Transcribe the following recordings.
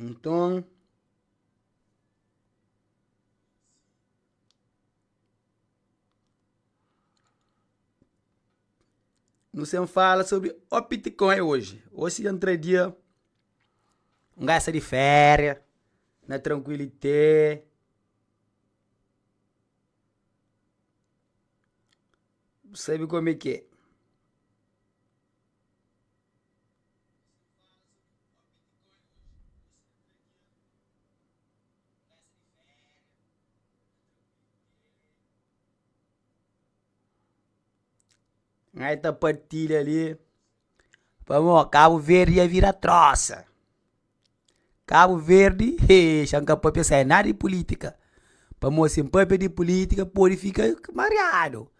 Nton, nu sen fala sobri opi ti kon é oji. Oji si entra dia, un gaji sai di féria, na trankuilite. Bu sabe kome k'é? ngai ta partilha li pa bo cabo verde ia vira troça, cabo verde he xa nka papia sai nada di politica, pamo si npapia di politica podi fika mariado,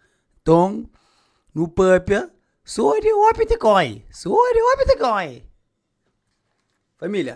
nton no papia so di hopi ti koi, so di hopi ti koi, família.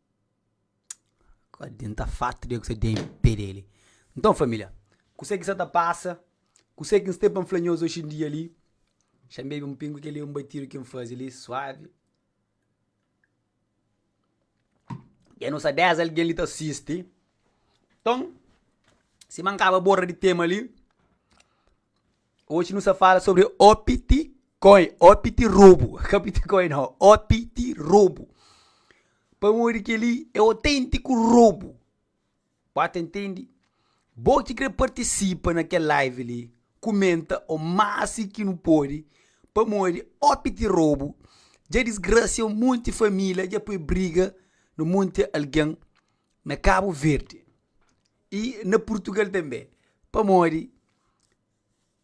Ka adianta farta di gosi di pé dele. Nton, família, kuse ki sta ta pasa, kuse ki N sta pa N fla nhos oxindia li, xanbebe un pingu kel-li é un batidu ki N faze li suavi. Dja nu sta dés algen li ta sisti. Nton, sima N kaba borda di tema li. Oji nu sa fala sobri opiti koi, opiti robu, ka piti koi no, opiti robu. Pamodi keli é otentiku robu. Ba ta intendi? Bo ki kre partisipa na kel live li, kumenta o maxi ki nu podi, pamodi opiti robu dja disgrassia un monti família, dja poi briga no monti algen na Kabu Verdi. I na Purtugal tanbê, pamodi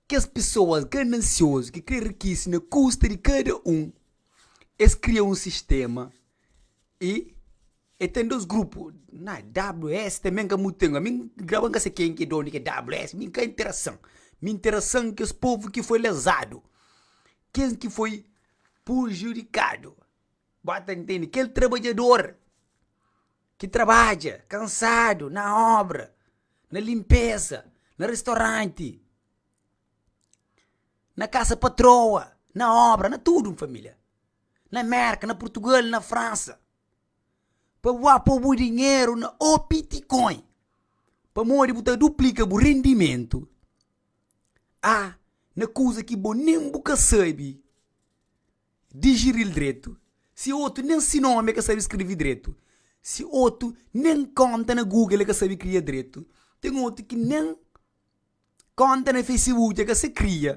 kes pesoas ganansiozu ki krê rikise na kusta di kada un, es kria un sistéma i e ten dôs grupu. Na WS tanbê n ka mutu ten. Mi graba n ka sai ken ki é dónu di WS, mi n ka interasan. Mi interasan kes povu ki foi lezadu, kes ki foi pujudikadu. Bo ta ntende? Kel trabadjador ki trabadja kansadu na óbra, na linpéza, na restoranti, na kasa patroa, na óbra, na tudu, N família, na Mérka, na Purtugal, na Fransa, pa bu ba po bu dinheru na o Bitcoin, pamodi bu ta duplika bu rendimentu a na kuza ki bo nen bu ka sabe. Digiril dretu, si otu nen si nomi e ka sabi skrevi dretu, si otu nen konta na Google e ka sabi kria dretu, ten otu ki nen konta na Facebook e ka sa kria.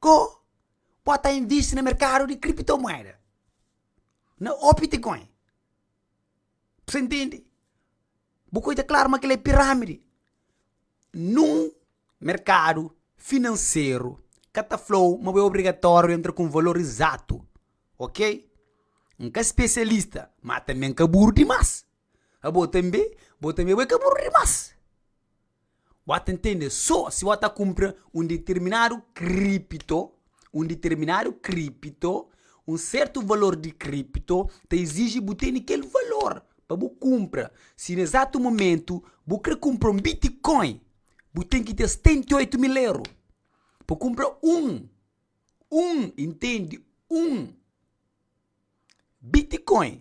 Ko bo ta invisti na merkadu di kriptomueda na Opticoin. pa se ntende, bu poi ta klaru ma kel la é piramidi, nun merkadu finanseru ka ta flau ma bu é obrigatoriu entra ku un valor izatu, ok, N ka spesialista ma tanbe N ka buru dimas, abo tanbe, bo tanbe bo é ka buru dimas. Bo ta ntende so si bo ta kunpra un ditirminadu kripto, un ditirminadu kripto, un sertu valor di kripto ta iziji bu teni kel valor pa bu kunpra. Si na ezatu mumentu bu kre kunpra un bitikoin, bu ten ki ten stenta y oitu mil eru pa kunpra un, un, i ntende, un bitikoin.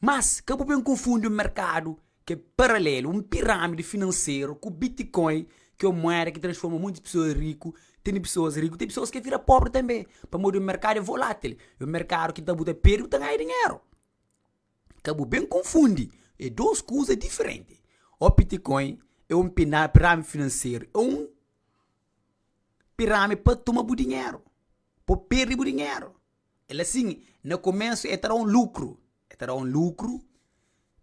Mas, ka bu ben konfundi un merkadu ki é paralelu, un pirâmidi finanseru, ku Bitcoin, ki é un mueda ki transforma monti pesoas riku. Tene pesoas riku, ten pesoas ki é vira pobri tanbe, pamodi un merkadu é volátil. É un merkadu ki ta bu ta perde, bu ta ganha dinheru. Ka bu ben konfundi, é dôs kuza diferenti. O Bitcoin é un piná, pirâmidi finanseru, é un pirâmidi pa toma bu dinheru, pa perde bu dinheru. El asin, na komensu e ta da un lukru, e ta da un lukru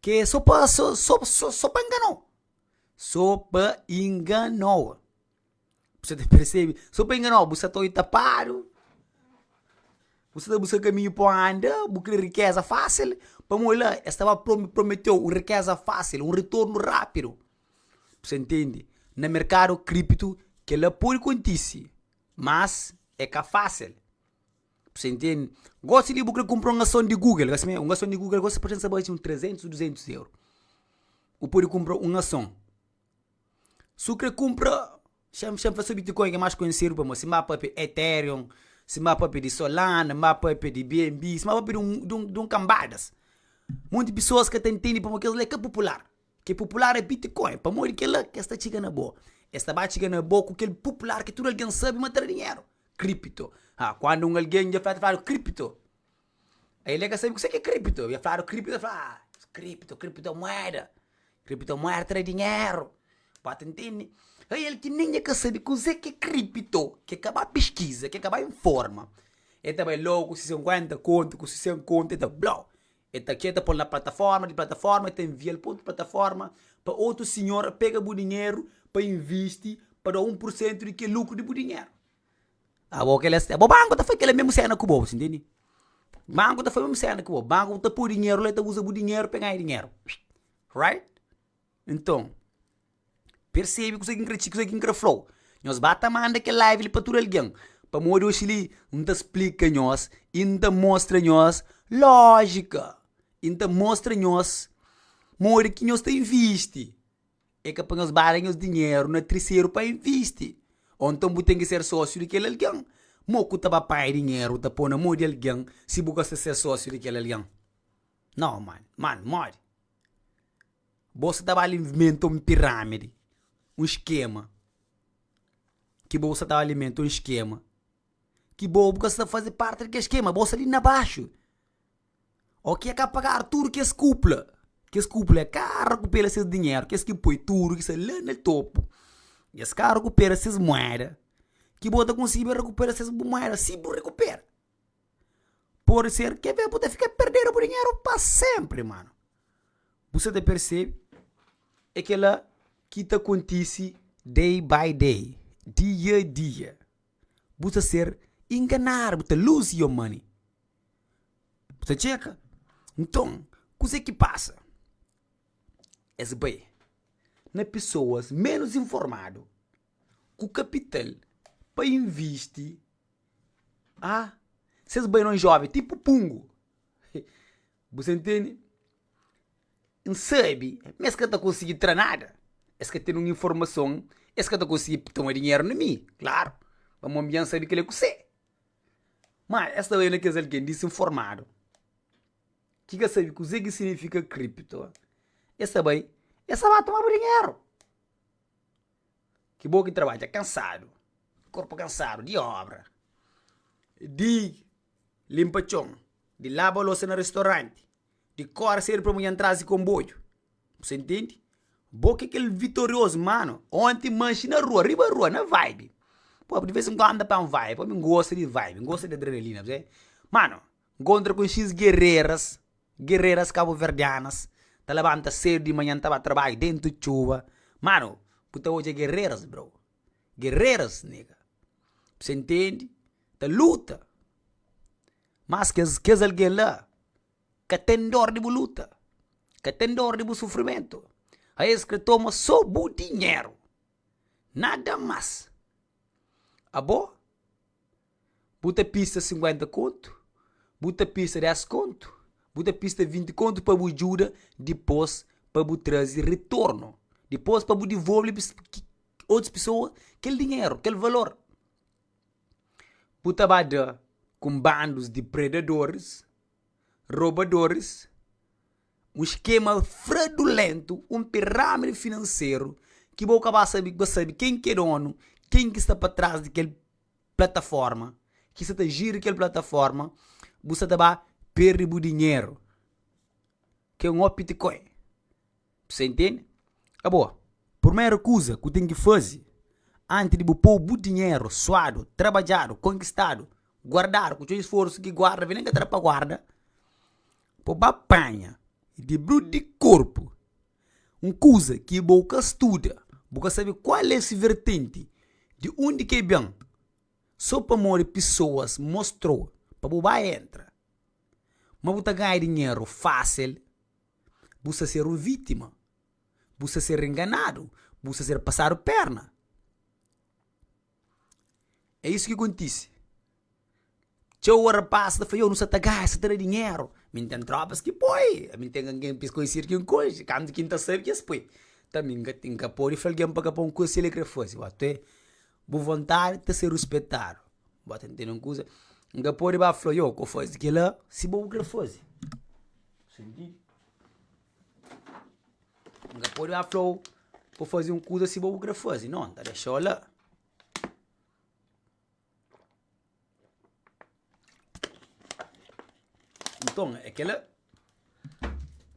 ke so pa so so so so pa ngano, so pa ingano. Bu sa ta persebi, so pa ingano, bu sa ta obi tapadu, bu sa ta buska kaminhu pa anda, bu kre rikeza fasil, pamodi la e staba pro prometeu un rikeza fasil, un retornu rapidu. Bu sa ntende? Na merkadu kriptu kela podi kontisi, mas e ka fasil. Pa se ntende. Gosi li bu kre kunpra un ason di google, gosi mei, un ason di google gosi pa pensa ba un trezentus, duzentus euro. Bu pode kunpra un ason. Su kre kunpra, xen, xen fla so bitcoin ke mas konhesidu pamodi si ba papia ethereum, si ba papia di solana, ba papia di bnb, si ba papia di un, di un, di un kambadas. Monti pessoas ka ta ntende pamodi kes la e ka popular. Kel pupular é Bitcoin. Pamodi kel-la, ki es ta txiga na bo? Es ta ba txiga na bo ku kel pupular ki tudu algen sabe ma ta da dinheru, Kripto. Ha, kandu un algen dja fla-l, ta fladu, Kripto! Aí el é ka sabe kuse ki é Kripto. Dja fladu Kripto, el fla, Ha, Kripto, Kriptomuéda, Kriptomuéda ta da dinheru. Bo ta ntende? Aí el ki nen dja ka sabe kuzê ki é Kripto, ki el ka ba piskiza, ki el ka ba informa, el ta bai lógu ku se senkuénta kontu, ku se sen kontu, el ta, Blou! El ta txeta pô-l na plataforma, di plataforma el ta invia-l pa otu plataforma pa otu sinhor pega bu dinheru pa invisti pa da un pur sentu di ke lukru di bu dinheru. Abo kel la sta, bo banku ta fai kel la mesmu sena ku bo, bu ta ntende? Banku ta fai mesmu sena ku bo, banku ta pô dinheru la, el ta uza bu dinheru pa e ganha dinheru, right? Nton, persebi kuzê ki N kre txi i kuzê ki N kre fla-u. Nhos ba ta manda kel live li pa tudu algen, pamodi oxi li N ta splika nhos i N ta mostra nhos lójika i N ta mostra nhos modi ki nhos ta invisti. É ka pa nhos ba da nhos dinheru na triseru pa invisti. Ô nton bu ten ki ser sósiu di kel algen. Mo ku ta ba pai dinheru ta pô na mô di algen si bu ka sta ser sósiu di kel algen? Nau, mano. Mano, modi? Bo sta ta ba alimenta un piramidi, un skema, ki bo sta ta alimenta un skema ki bo bu ka sta ta faze parti di kel skema, bo sta li na baxu. Ok, el ka pagadu tudu kes kupla, kes kupla el ka rekupera ses dinheru, kes ki poi tudu ki sta la na topu, es ka rekupera ses mueda, ki bo ta konsigiba rekupera ses bu mueda si bu rekupera. Pode ser, ke bê bu ta fika perdedu bu dinheru pa senpri mano. Bu sta ta persebi? É kela ki ta kontise day by day, dia dia, bu ta ser inganadu, bu ta lose your money, bu ta tcheka. Nton, kuzê ki pasa? Es bai na pesoas menus informadu ku kapital pa invisti. Ah, si es bai na un jóven tipu Pungu, bu sta ntende? N sabe ma es ka ta konsigi tra nada, es ka ten un informason, es ka ta konsigi toma dinheru na mi, klaru, pamodi ami dja N sabe kile ku se. Má es ta bai na kes algen disinformadu, ki ka sabe kuzê ki siginifika kripto, es ta bai, es ta ba toma bu dinheru. Ki bo ki trabadja kansadu, korpu kansadu di óbra, di linpa txon, di laba losa na restoranti, di kóre sedu pa munhan trazi konboiu, bu sa intendi? Bo ki kel vitoriozu, mano, onti manxi na rua, riba rua, na vaibi, pô, di vez en kuandu N ta panha un vaibi, pô, ami N gosta di vaibi, N gosta di adrenalina, mano. Nkontra ku X gerreras, gerreras kabuverdianas, ta labanta sedu di manhan ta ba tarbadju dentu txuba. Mano, bu ta odja gerreras, bro. Gerreras, nega. Bu sa intendi? Ta luta. Mas kes, kes algen la ka ten dor di bu luta, ka ten dor di bu sufrimentu. Aes kre toma so bu dinheru, nada mas. Abo. Bu ta pista sinkuénta kontu? Bu ta pista dés kontu? Bu ta pista vinti kontu pa bu djuda dipôs pa bu traze ritornu? Dipôs pa bu divolve otus pesoa kel dinheru, kel valor? Bu ta ba da ku un bandus di predadoris, robadoris, un skema fradulentu, un pirámidi finanseru ki bo ka ba sabe, ki bo sabe ken ki é dónu, ken ki sta pa tras di kel. plataforma ki sa ta jiri kel plataforma bu sa ta ba perde bu dinheru ki é un hot bitcoin bu sa intende a bo purmeru kuza ku ten ki fazi anti di bu pou bu dinheru suadu trabadjadu konkistadu guardadu ku txeu isforsu ki guarda vende ka ta da pa guarda bo ba panha di bru di korpu Un kuza ki bo ka studa, bo ka sabe kual é se vertenti, di undi ki el ben, so pamodi pesoas mostra-u pa bu bai entra. Ma bu ta ganha dinheru fasil, bu sta ser un vitima, bu sta ser enganadu, bu sta ser pasadu perna. É isu ki kontise. Txeu óra pas ta fla, ioh, nu sa ta gasta, sa ta da dinheru. Mi N ten trópas ki poi, ami N ten algen ki es konhesidu ki N konxe, kantu ki N ta sabe ki es poi. Nton, mi N ka ten, N ka pode fla algen pa ka poi un kuza si el é krê faze. Bo atué, bu vontadi ta ser ruspetadu. Bo ta ntende un kuza? N ka pode ba fla, ioh, k'o faze kel-la si bo bu krê faze. Fas sentidu? N ka pode ba fla-u pa faze un kuza si bo bu krê faze. Nau, N ta dexa-u la. Nton, é kela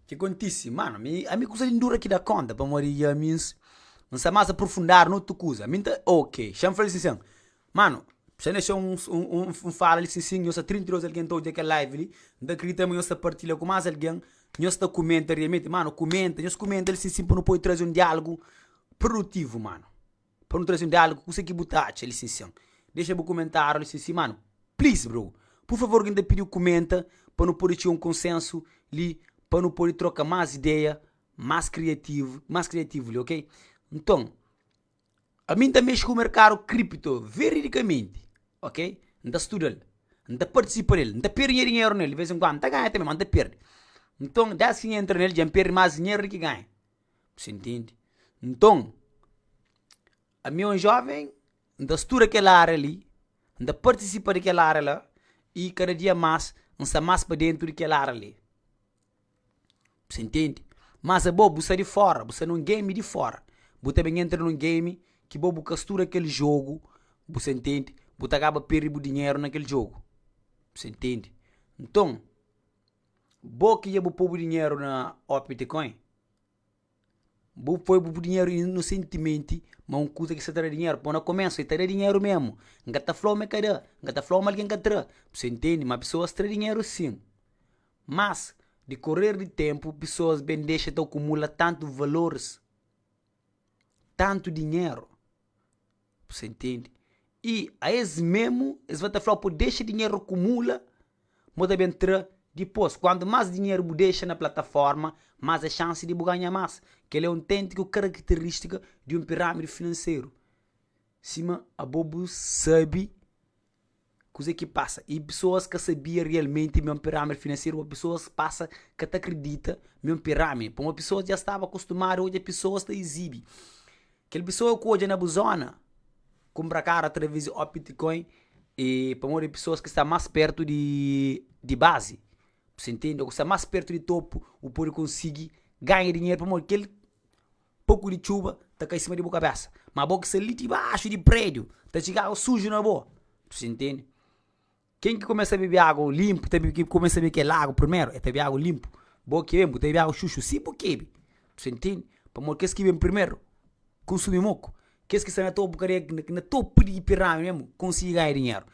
ki kontise. Mano, ami, ami kusa di N dura ki da kónta pamodi dja mi N sta más aprufundadu na otu kuza. Mi N ta. Oke, xa N fla-l sin sen. Mano, Sa nexeu un un fala li sin sin nhos sta 32 algen ta odja kel live li N ta kridita ma nhos ta partilha ku más algen Nhos ta kumenta rialmenti Mano, kumenta, nhos kumenta li sin sin pa nu poi traze un diálogu prudutivu mano Pa nu traze un diálogu kuse ki bu ta atxa li sin sin Dexa bu kumentáriu li sin sin mano Please bro, pur favor ki N ta pidi-u kumenta pa nu pode txiga un konsénsu li Pa nu pode troka más ideia más kriativu más kriativu li ok Nton, Ami N ta mexe ku merkadu kripto veridikamenti, ok. N ta studa-l, N ta partisipa na el, N ta perde nha dinheru na el di vez en kuandu, N ta ganha tanbe, ma N ta perde. Nton, des ki N entra na el dja N perde más dinheru di ki ganha. Bu sa ntende? Nton, ami é un joven, N ta studa kel ária li, N ta partisipa di kel ária la i kada dia más N sta más pa dentu di kel ária li. Bus intendi? Mas abo bu sta di fora, bu sta nun game di fora, bu ta ben entra nun game ki bo bu ka studa kel jogu, bu sa intendi, bu ta kaba pirdi bu dinheru na kel jogu. Bu sa intendi? Nton, bo ki dja bu po bu dinheru na OptiCoin. Bu poi bu dinheru inosentimenti ma un kuza ki sa ta da dinheru, pô na komésu el ta da dinheru mésmu, N ka ta fla-u ma el ka da, N ka ta fla-u ma algen ka tra, bus intende ma pesoas tra dinheru sin. Mas, dikorer di ténpu, pesoas ben dexa ta akumula tantu valoris, tantu dinheru. Bu sa intende. I a es memu, es va ta flau, Po dexa dinheru akumula, m'o ta ben tra dipos. Kuantu mas dinheru bu dexa na plataforma, mas é xansi di bu ganha mas. Kel-li é un tenti ku karakteristika di un piramidi finanseru. Sima abo bu sabi, Kuzê ki pasa? I pesoas ka sabia rialmenti ma é un pirámidi finanseru ô pesoas pasa ka ta kridita ma é un pirámidi? Pamodi pesoas dja staba kustumadu odja pesoas ta izibi. Kel pesoa ku odja na bu zóna kunpra karu através di OpBitcoin i pamodi é pesoas ki sta más pértu di di bazi, bu sta intende? Ô ku sta más pértu di topu bu pode konsigi ganha dinheru pamodi kel. Poku di txuba ta kai sima di bu kabésa, má bo ki sta li dibaxu di prédiu, ta txiga agu suju na bo. Tus intende? Ken ki kumesa bebe agu linpu, ta bebe, kumesa bebe kel agu primeru, el ta bebe agu linpu. Bo ki ben, bu ta bebe agu xuxu si bu kebe. Tus intende? Pamodi kes ki ben primeru, kunsumi moku. Kes ki sta na topu kadea, ki na topu di pirâmidi mésmu, konsigi ganha dinheru.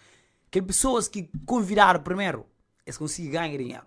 Kel pesoas ki konvidadu primeru, es konsigi ganha dinheru.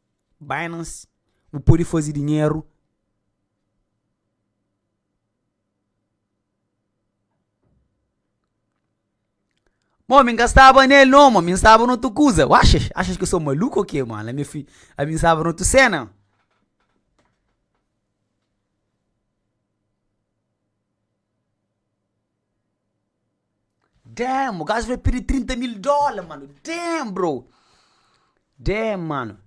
Binance, bu pode faze dinheru Mon, mi ka staba nel no mon, mi staba na otu kuza. Oxi, acha ki so maluku o ke? Mala mi fi, ami staba na otu sena. Damn o gajo bai perde trinta mil dóla mano, damn bro, damn mano.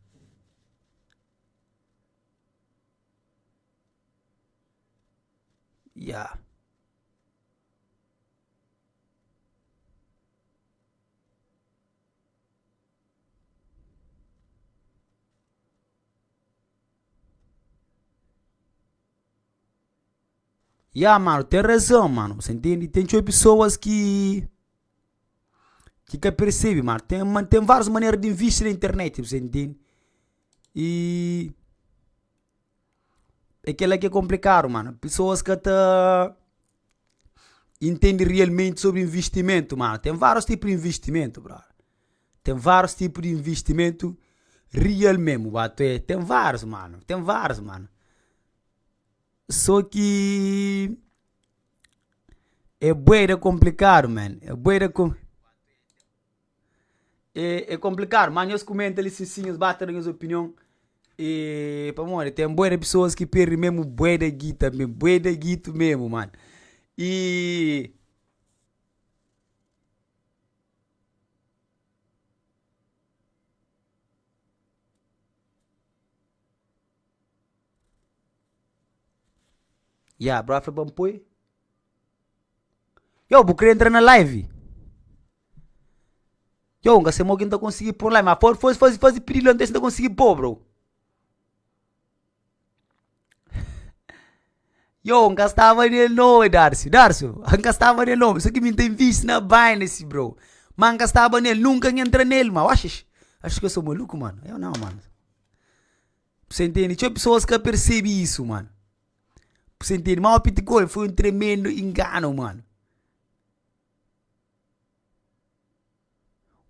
Yeah. Ya mano, ten razao mano, bu ta ntende. Ten txeu pesoas ki ki ka persebe mano. Ten ma- ten várias manera di invisti na internet, bu ta ntende. I é kela ki é komplikadu mano. Pesoas ka ta intende realmente sobri investimento, mano. Ten vários tipus di investimento, brada. Ten vários tipus di investimento real mesmo, até. Ten vários mano, ten vários mano. Só ki é bué da konplikadu man, é bué da kon. É é konplikadu ma nhos kumenta li si si nhos ba ta da nhos opinion i pamodi ten bué di pesoas ki perde memu bué da gita memu, bué da gitu memu mano. I Ya, bro a fla pa-m poi. Yow bu kre entra na live? Yow, N ka sai mo ki N ta konsigi pô-u na live ma for faze faze faze pididu la N ta wê si N ta konsigi pô-u, bro. Yow, N ka staba nel nau ê darcio, darcio, N ka staba nel nau, se ki mi N ten vistu na binance, bro, ma N ka staba nel, nunka N entra nel, mano, oxi, acho ki eu sou maluco, mano, eu não, mano. Be sa intende, txeu pesoas ka persebe isu, mano. Be sa intende, mau pitikol foi un tremendo inganu, mano.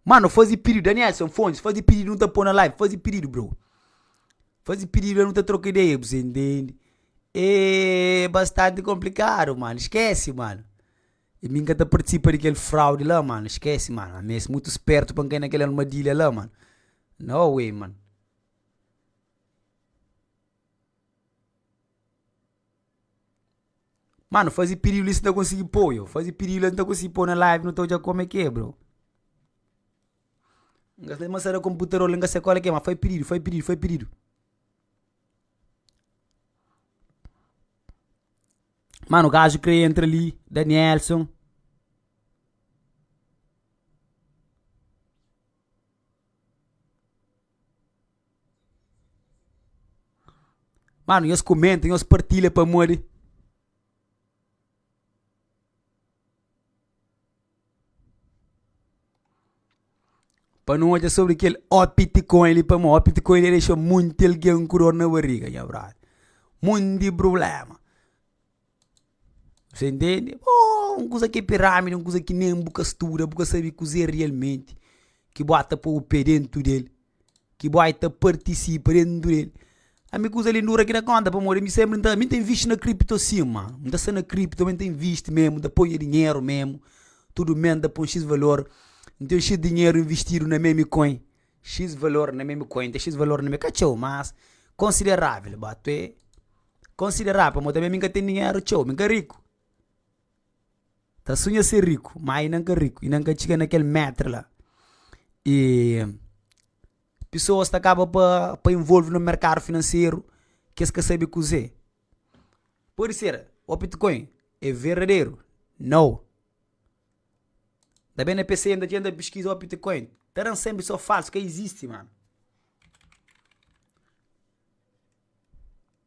Mano, faze pedidu, danielson fontes, faze pedidu nu ta pô na live, faze pedidu, bro. Faze pedidu la nu ta troka ideia, be sa intende. Êêê bastante komplikadu, mano, skese, mano. E mi n ka ta partisipa di kel fraudi la mano, skese mano, ami es mutu spertu pa n kai na kel armadilha la mano, no way mano. Mano faze piriu li si ta konsigi pô yo, faze piriu li si ta konsigi pô na live nu ta odja kome ki é bro. N ka mos sada konputador la n ka sai kóli ki é má fai piriu, fai piriu, fai piriu. Mano, gajo kre entra ali, Danielson. Mano, nhos comenta, nhos partilha pamodi. Pa nu odja sobri kel optikoin li pamodi optikoin li ta dexa monti algen ku dor na bariga, nha brother. Monti prubléma. Mos intende? Ohh un kusa ki é pirámidi, un kusa ki nen bu ka studa, bu ka sabe kuzê rialmenti ki bu ata pô-u pé déntu del. ki bu ai ta partisipa di un duel. Ami kuza li dura ki na konta pamodi mi sempri nta mi ta invisti na kripto sima, nta sta na kripto mi ta invisti memu, nta ponha dinheru memu, tudu mes nta pon x valor, n ten x dinheru invistidu na memi coin, x valor na memi coin, ten x valor na memi, ka txeu mas konsiderável ba, tu é konsiderável pamodi mi ka ten dinheru txeu, mi ka riku. Ta sunha ser riku ma i nan ka riku, i nan ka txiga na kel metre la. Pisoas ta kaba pa- pa involve na merkadu finanseru ke es ka sabe kuzé. Pode ser o bitcoin é verdaderu? Nau. Nta ben na p'e senta tenta piskiza o bitcoin, ta dan sempri só falsu, ka izisti manu.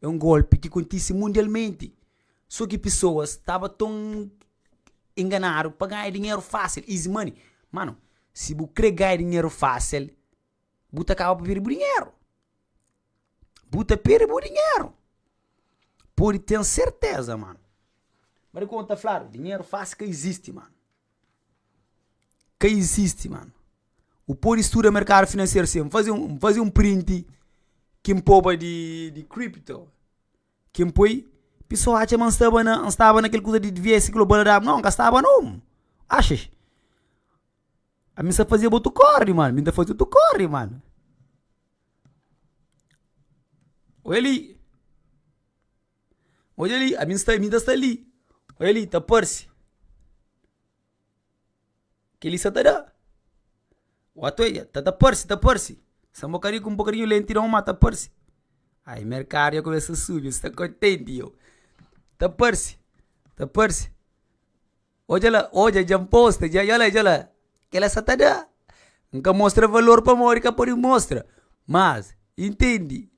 É un golpi ki kontise mundialmenti, so ki pisoas staba ton inganadu pa ganha dinheru fasil, easy money. Mano, si bu kre ganha dinheru fasil, bu ta kaba pa perde bu dinheru. Bu ta perde bu dinheru, pode ten serteza mano. Bada ki un ta fladu, dinheru fasil ka izisti mano. Ka izisti, mano. Bu pode studa merkadu finanseru si. N faze un- N faze un printi ki N poba di- di crypto, ki N poi, pisoa atxa ma N staba na- N staba na kel kuza di diversi baladabu. Nau, N ka staba nau. Axis? Ami sa fazeba otu kori, mano. Mi ta faze otu kori, mano. Weli! Odja li, a mi sta mi ta sta li, odja li ta parse ke li sa ta da, wa ta odja ta ta parse ta parse, sa un bokadinhu ku un bokadinhu lentidon ma ta parse, ai merkadu ya kumesa subi sta kontenti yeo, ta parse ta parse, odja la odja dja posta dja dja la dja la kila sa ta da, N ka mostra valor pamodi ka pudi mostra mas intendi.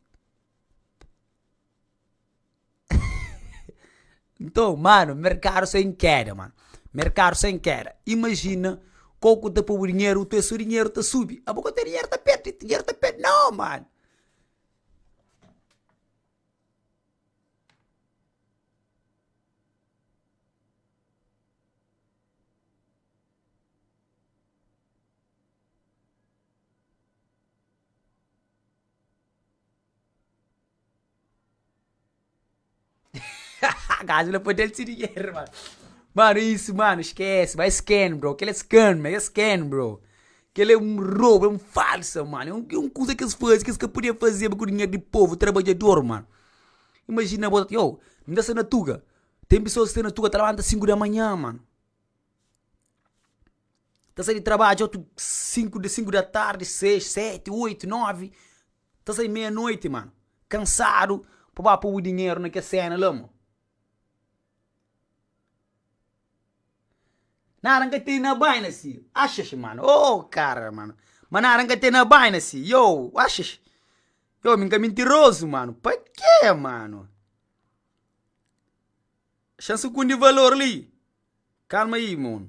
Nton, mano, merkadu sta en keda, mano. Merkadu sta en keda. Imajina kau ku ta pobu dinheru, bu ta wê sô dinheru ta subi. Abo ka ta wê dinheru ta perde, dinheru ta perde. Nau, mano! Gaji la pa del si dinheru mano Mano isso mano esquece ba scam bro Kela é scam é scam bro Kela é um robo é um falsa mano É um é um kuza kes faze kes ka podia fazeba ku dinheru di povo trabadjador mano Imagina bo io N ta sta na tuga Tem pessoas ki sta na tuga ta labanta sinku da manha mano Ta sai di trabadjo otu sinku sinku da tardi seis seti oitu novi Ta sai meia noite mano. Cansado pa ba pô-bu dinheiro na kes cena la mo. Nada nka tem na baina si. Axaxi mano oh cara mano. Ma nada nka tem na baina si yow axaxi. Yow mi nka mentiroso mano. Pa ke mano. Xan sukundi valor li. Calma aí mon.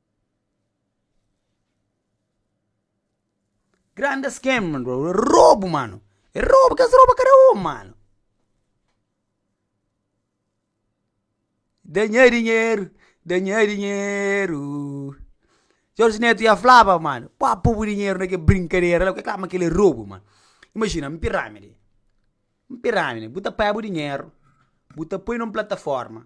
Grande scam bro, é robu mano, é robu ki es roba kada un mano. Da nha dinheiro, da nha dinheiro. Jorge Neto ya flaba mano, pa po bu dinheiro na ke brinkadera la, ku é klaro ma kile é robu mano. Imajina N pirami li, N pirami li, bu ta pâ bu dinheiro, bu ta poi na un plataforma,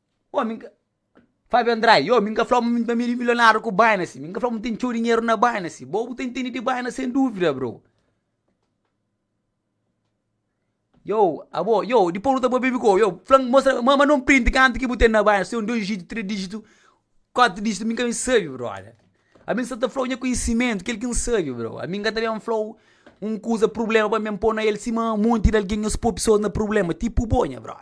Ôô, mi nka. Fábio Andrade, Ôô, mi nka fla-u ma mi ta bira milionáriu ku Binance, mi nka fla-u ma mi ten txeu dinheru na Binance. Bo bu ta intende di Binance sen dúvida, bro. Ôô, abo, ôô, dipôs bu ta bebe ku ôô, fla-m, mostra-m, manda un print kantu ki bu ten na Binance, se é un dôs dizítu, três dizítu, kuatu dizítu, mi nka ben sabe, brota. Ami N sta ta fla-u nha konhisimentu, kel ki N sabe, bro. Ami nka ta ben fla-u un kuza, prubléma pa mi, N ben pô na el sima monti di algen nhos pô pesoas na prubléma, tipu bo, nha brota.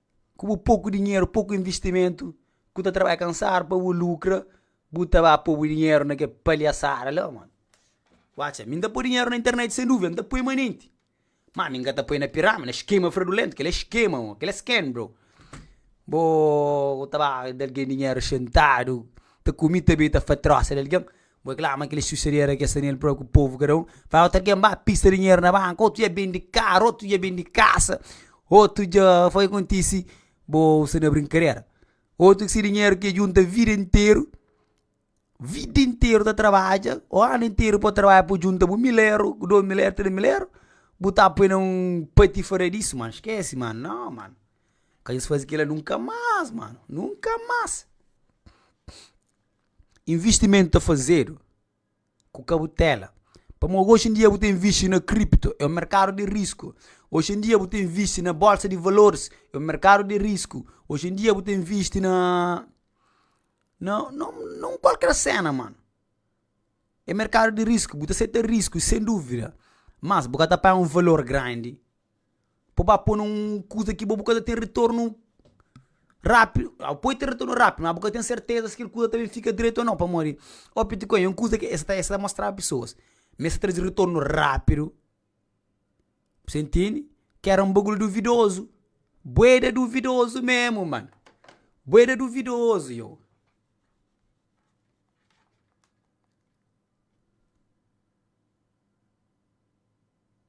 ku bu poku dinheru, poku investimentu, ku ta trabalha kansadu pa bu lukra, bu ta ba po bu dinheru na ke palhasada la, mano. Watcha, mi N ta poi dinheru na internet sem duvida, N ta poi manenti. Má mi N ka ta poi na pirámidi, na skema fradulentu, kel-li é skema, mon, kel-li é scam, bro. Bo ta ba da algen dinheru xintadu, ta kume ta bai ta fatrosa di algen, Bo é klama kel xuxadeira ke sta nel propi povo kada um fai oter ke ba pista dinheiro na banca oto dja bendi carro oto dja bendi casa oto dja foi kontisi bo usa na brincadera oto ke si dinheiro ke junta vida inteiro vida inteiro ta trabalha o ano inteiro po trabalha po junta bo mil euro bo dois mil euro tres mil euro bo ta poi na um patifada disso mano esquece mano não mano ka esse fazi kila nunca mas mano nunca mas. Invistimentu ta fazedu ku kautela, pamodi oxi en dia bu ta invisti na kripto, é un merkadu di risku. Oxi en dia bu ta invisti na bólsa di valoris, é un merkadu di risku. Oxi en dia bu ta invisti na na- na un kualker séna, mano, é merkadu di risku, bu ta seta risku, sen dúvida. Mas bu ka ta pai un valor grandi. pa bu ba poi na un kuza ki bu ka ta ten retornu rápidu. Au, poi ten retornu rápidu, má bu ka ten serteza si kel kuza ta ben fika dretu ô nau, pamodi obi ti ku ê un kuza ki es ta es ta mostraba pesoas, ma es ta traze retornu rápidu. Bos entende? Ki éra un bagulho duvidozu, bué da duvidozu mesmu, mano. Bué da duvidozu, yau.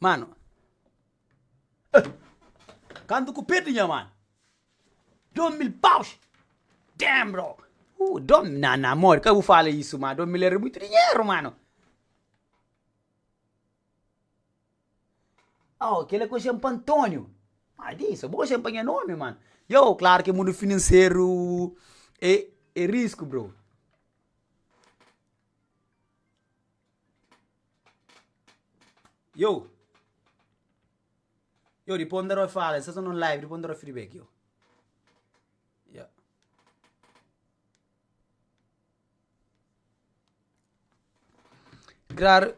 Mano, eh! Kantu ku perdi nha mano, dom mil paus! Damn bro! Uh, dom, na, na amor, ka bu fala isu, ma dom mil era muitu dinheru, mano! Oh, kila ku xen pa Antonio! Ma di, so bo xen pa nha nomi, mano! Yo, klaru ki mundu finanseru e, e risku, bro! Yo Yo depois nda rua fala, essa não live, depois nda rua feedback yo. Yeah. Claro,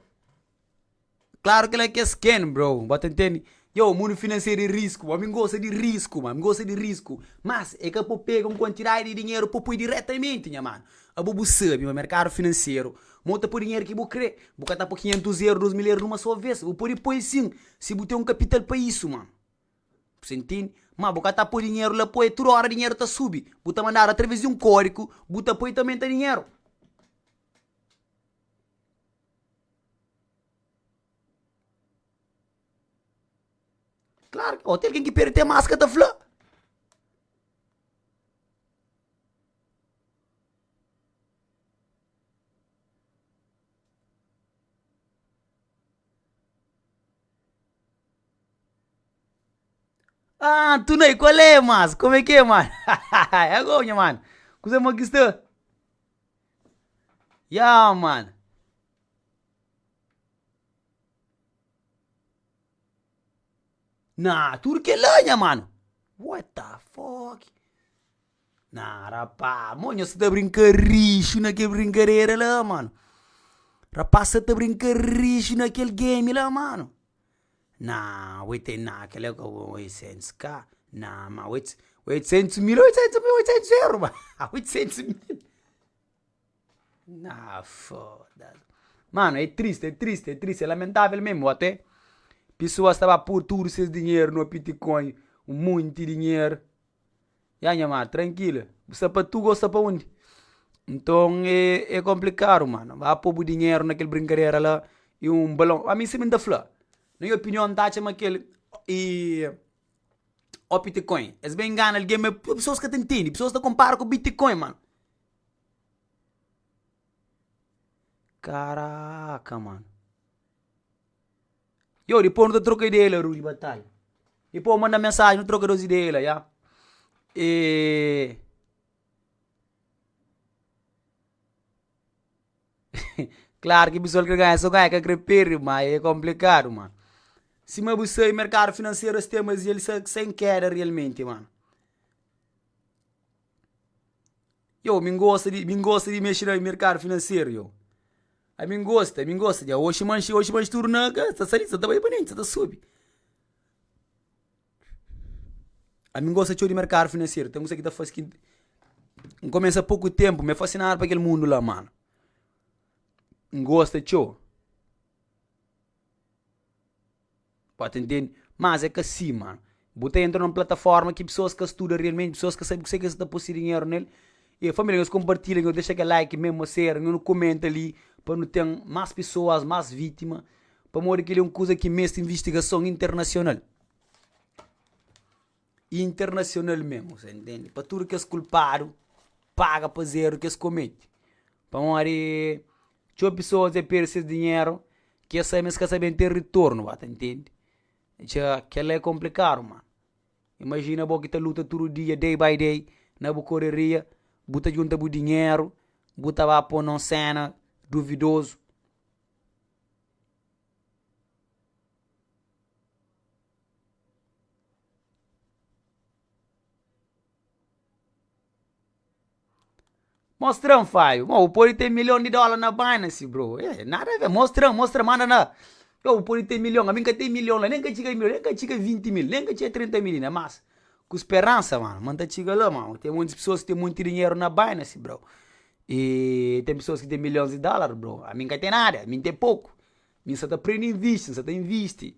claro que ela quer skin, bro. Bota entende? Yo, mundu finanseru é risku. Âmi N gosta di risku, ma. Mi gosta di risku. Mas, é ka pa bu pega un kuantidadi di dinheru pa bu poi diretamenti, nha manu. Abo bu sabe ma merkadu finanseru, ma bu ta poi dinheru ki bu krê. Bu ka ta poi kinhentus eru, dôs mil eru numa sô vês. Bu pode poi sin, si bu ten un kapital pa isu, mano. Bu sta ntende? Má bu ka ta poi dinheru la poi, tudu óra dinheru ta subi. Bu ta mandadu através di un kódiku, bu ta poi, ta omenta dinheru. Klaru ki, o ti algen ki perde te maska ta fla. Aaah tunei kualé mas kume ki é mano é gou nha mano kuze mo ki sta yeah mano. Nah tudu kela nha mano what the fuck nah rapaz mo nhos ta brinka rixu na kel brinkadera la mano rapaz sa ta brinka rixu na kel game la mano nah oi te nah kel la ka bom oitcentos ka nah ma oits oitcentos mil oitcentos mil oitcentos euro ba oitcentos mil Haa foda-s. Mano, é tristi, é tristi, é tristi, é lamentável mésmu. Até pesoas ta ba pur tudu ses dinheru no pitcoin, un monti dinheru. Ya nha mano, trankila, bu sta pa tuga ô sta pa undi? Nton é konplikadu mano. Ba po bu dinheru na kel brinkadera la i un balon. A mi sibi n ta fla, na nha opinion, n ta atxa ma kel o pitcoin es ben ngana algen ma pesoas ka ta ntende. Pesoas ta konpara ku bitcoin mano. Karaka mano. Yo dipô nu ta troka ideia la ru di batalha. Dipô bu manda-m mensagem nu troka nos ideia la yah. Klaro ki pessoal kre ganha sô ganha ka kre perde ma e konplikadu mano. Sima bu sai merkadu finanseru es tenba es el sa sa inkeda realmenti mano. Iow mi N gosta di mi N gosta di mexe na merkadu finanseru iow a mi N gosta mi N gosta dja oxi manxi oxi manxi tudu na ka sa sali sa ta bai pa ninti sa ta subi a mi N gosta txeu di merkadu finanseru ten kusé ki ta fase ki N kumesa poku ténpu ma N fasinadu pa kel mundu la mano N gosta txeu. Ba ta ntende, mas é ka sima bu ta entra na un plataforma ki pesoas ka studa realmenti, pesoas ka sabe kusé ki es ta poi se dinheru nel, i família nhos konpartilha, nhos dexa kel like meme ô séra, nhos kumenta li pa nu ten más pesoas, más vítima, pamodi kel-li é un kuza ki meste invistigason internasional. y internasionalmen ose ntende pa tudu kes kulpadu paga pa es eru ki es kometi pamodi txeu pesoas dja perde ses dinheru ki es sabe ma es ka ta ben ten ritornu ba ta ntende dja kela é konplikadu mano imajina bo ki ta luta tudu dia day by day na bu koreria bu ta djunta bu dinheru bu ta ba po non sena duvidozu Mostran faiu, ma bu pode ten milhon di dola na binance bro, eh nada a ver, mostran, mostra manda na, io bu pode ten milhon, ami nka ten milhon la, nen ka txiga milhon, nen ka txiga vinti mil, nen ka txiga trinta mil inda, mas ku speransa mano, ma nta txiga la mano, ten monti pessoas ki ten monti dinheiro na binance bro, i ten pessoas ki ten milhons di dolar bro, ami nka ten nada, ami ten poku. Mi N sa ta prende invisti, N sa ta invisti.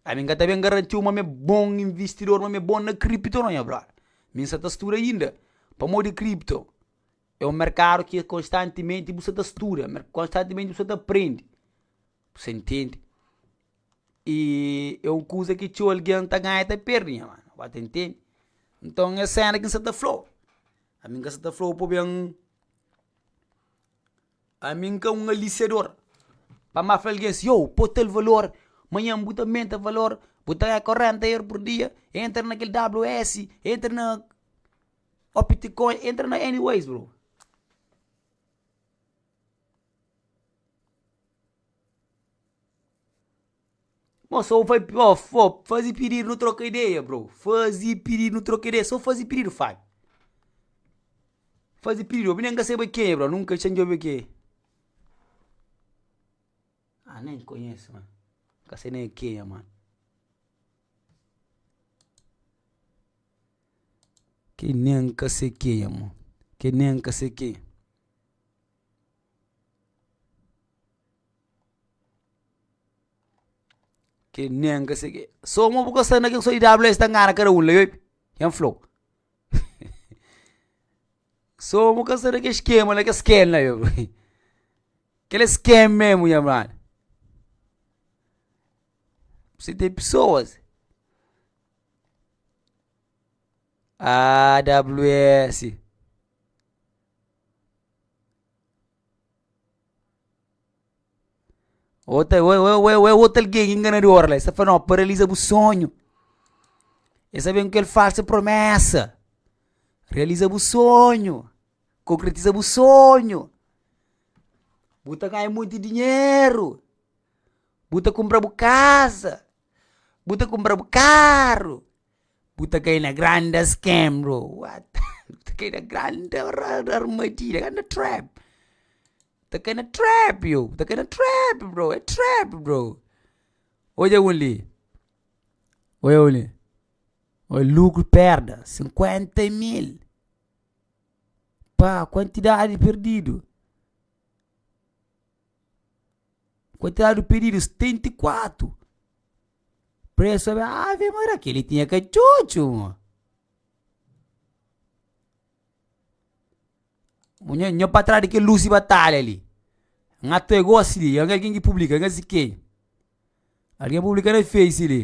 Ami N ka ta ben garantiu ma mi é bon investidor, ma mi é bon na kripto nau, nha brother. Mi N sa ta studa inda. Pamodi kripto é un merkadu ki konstantimenti bu sta ta studa, konstantimenti bu sta ta prende. Bu sa ntende? I é un kuza ki txeu algen ta ganha i ta perde, nha mano, ba ta ntende. Nton é sena ki N sa ta fla-u. Ami N ka sa ta fla-u pa ben. Ami N ka un alisador pa má fla algen si, Ôu, pô tal valor, manhan bu ta menta valor, bu ta ganha korenta eur pur dia, entra na kel WS, entra na Opticoin, entra na any ways bro. Bom, só vai ó, ó, fazi pididu nu troka ideia bro, fazi pididu nu troka ideia, só fazi pididu Fábio, fazi pididu, obi nen ka seba ken é bro, nunka txeu djobe ken é, ah nen konhese mano, ka sei nen ken é mano, ke nen ka sei ken é mano, ke nen ka sei ken é. Ke nen ka segi, so mo bu ka sta na kin so EWS ta ngana kada un la yope, ken flou. So bu ka sta na ke skema la ke sken la yo, kila sken mesmo nha amada. P'si ten pessoas, aa WS. Ota ota algen inganador la, e sa fala, no paralisa bu sonhu, e sa ben ku kel falsu promesa, realiza bu sonhu, konkretiza bu sonhu, bu ta ganha monti dinheru, bu ta kumpra bu kaza, bu ta kumpra bu karu. Bu ta kai na grande scam bro, what bu ta kai na grande armadilha, grande trap, bu ta kai na trap io, bu ta kai na trap bro, é trap bro, odja un li, odja un li, oi lucro perda cinquenta mil, pá quantidade perdido. Quantidade de pedidos, 74. Preço, Ave Maria, aquele tinha cachucho. Nha, nha pra trás daquele Lucy Batalha ali. Nga tu é gosi li, nga algin ki publika, nga si ken. Algin publika na face li.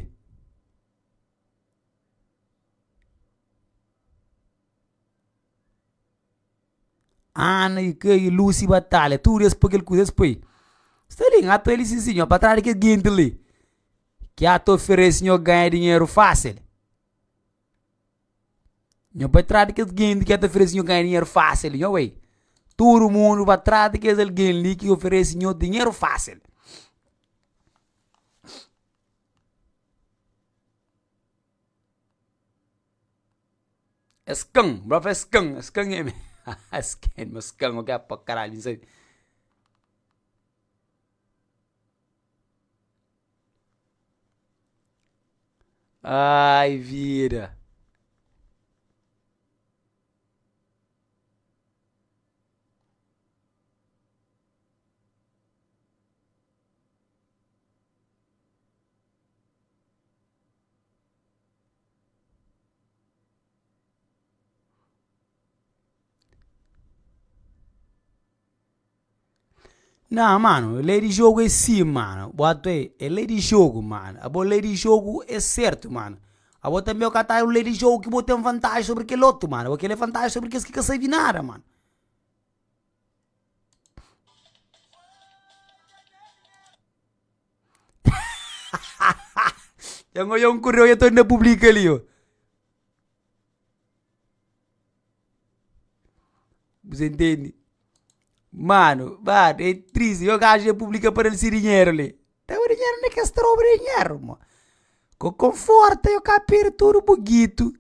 Ana i kai, i Lusi i Batalha, tudu es pa kel kuza es poi. Sta li, n'ka ta lisi si, pa trás di kes genti li ki a ta oferese nau ganha dinheru fásil. Nau bai trás di kes genti ki a ta oferese nau ganha dinheru fásil, nau bai. Tudu mundu bai trás di kes algen li ki oferese nau dinheru fásil. Es kan, bu ta fla es kan, es kan é mi, es kan, es kan é oki pa karalhu mi sabe. Aaai vida, Nah, mano, lei di jogu é si, mano. Bo atu ê, é lei di jogu, mano. Abo lei di jogu é sertu, mano. Abo tanbe o ka ta un lei di jogu ki bo ten vantaji sobri kel otu, mano. Bo kel é vantaji sobri kes ki ka sabe nada, mano. Dja N odja un ku reu, ta publika li. Bu sa intendi? Mano, mano, e tristi. Yo gajo dja publika pa dal si dinheru li. Dal bu dinheru undi ki es tra bu dinheru, mo? Ku konforta yo ka perde tudu bu gitu.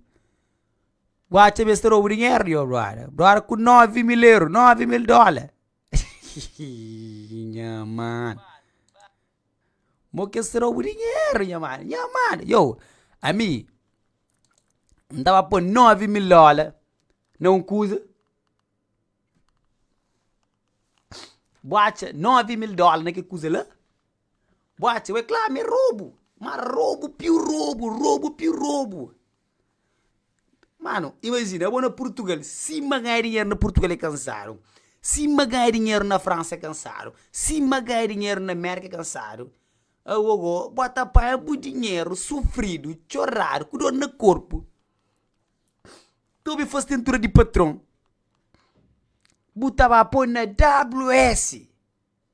Bu acha ma es tra bu dinheru li, yo brother? Brother, ku novi mil euro, novi mil dola. nha mano, mo kes ta roba dinheru nha mano, nha mano, ioh ami N tava pô nove mil dóla na un kuza, bo atcha nove mil dóla na ke kuza la? Bo atcha wê? Kla, mi é robu, ma robu piu robu, robu piu robu. Mano, imajina, abo na Purtugal, sima ganha dinheru na Purtugal é kansadu, sima ganha dinheru na Fransa é kansadu, sima ganha dinheru na Mérka é kansadu, agogo bo ta panha bu dinheru sufridu, txoradu, ku dor na korpu, ta obi fas tentura di patron, bu ta ba poi na WS.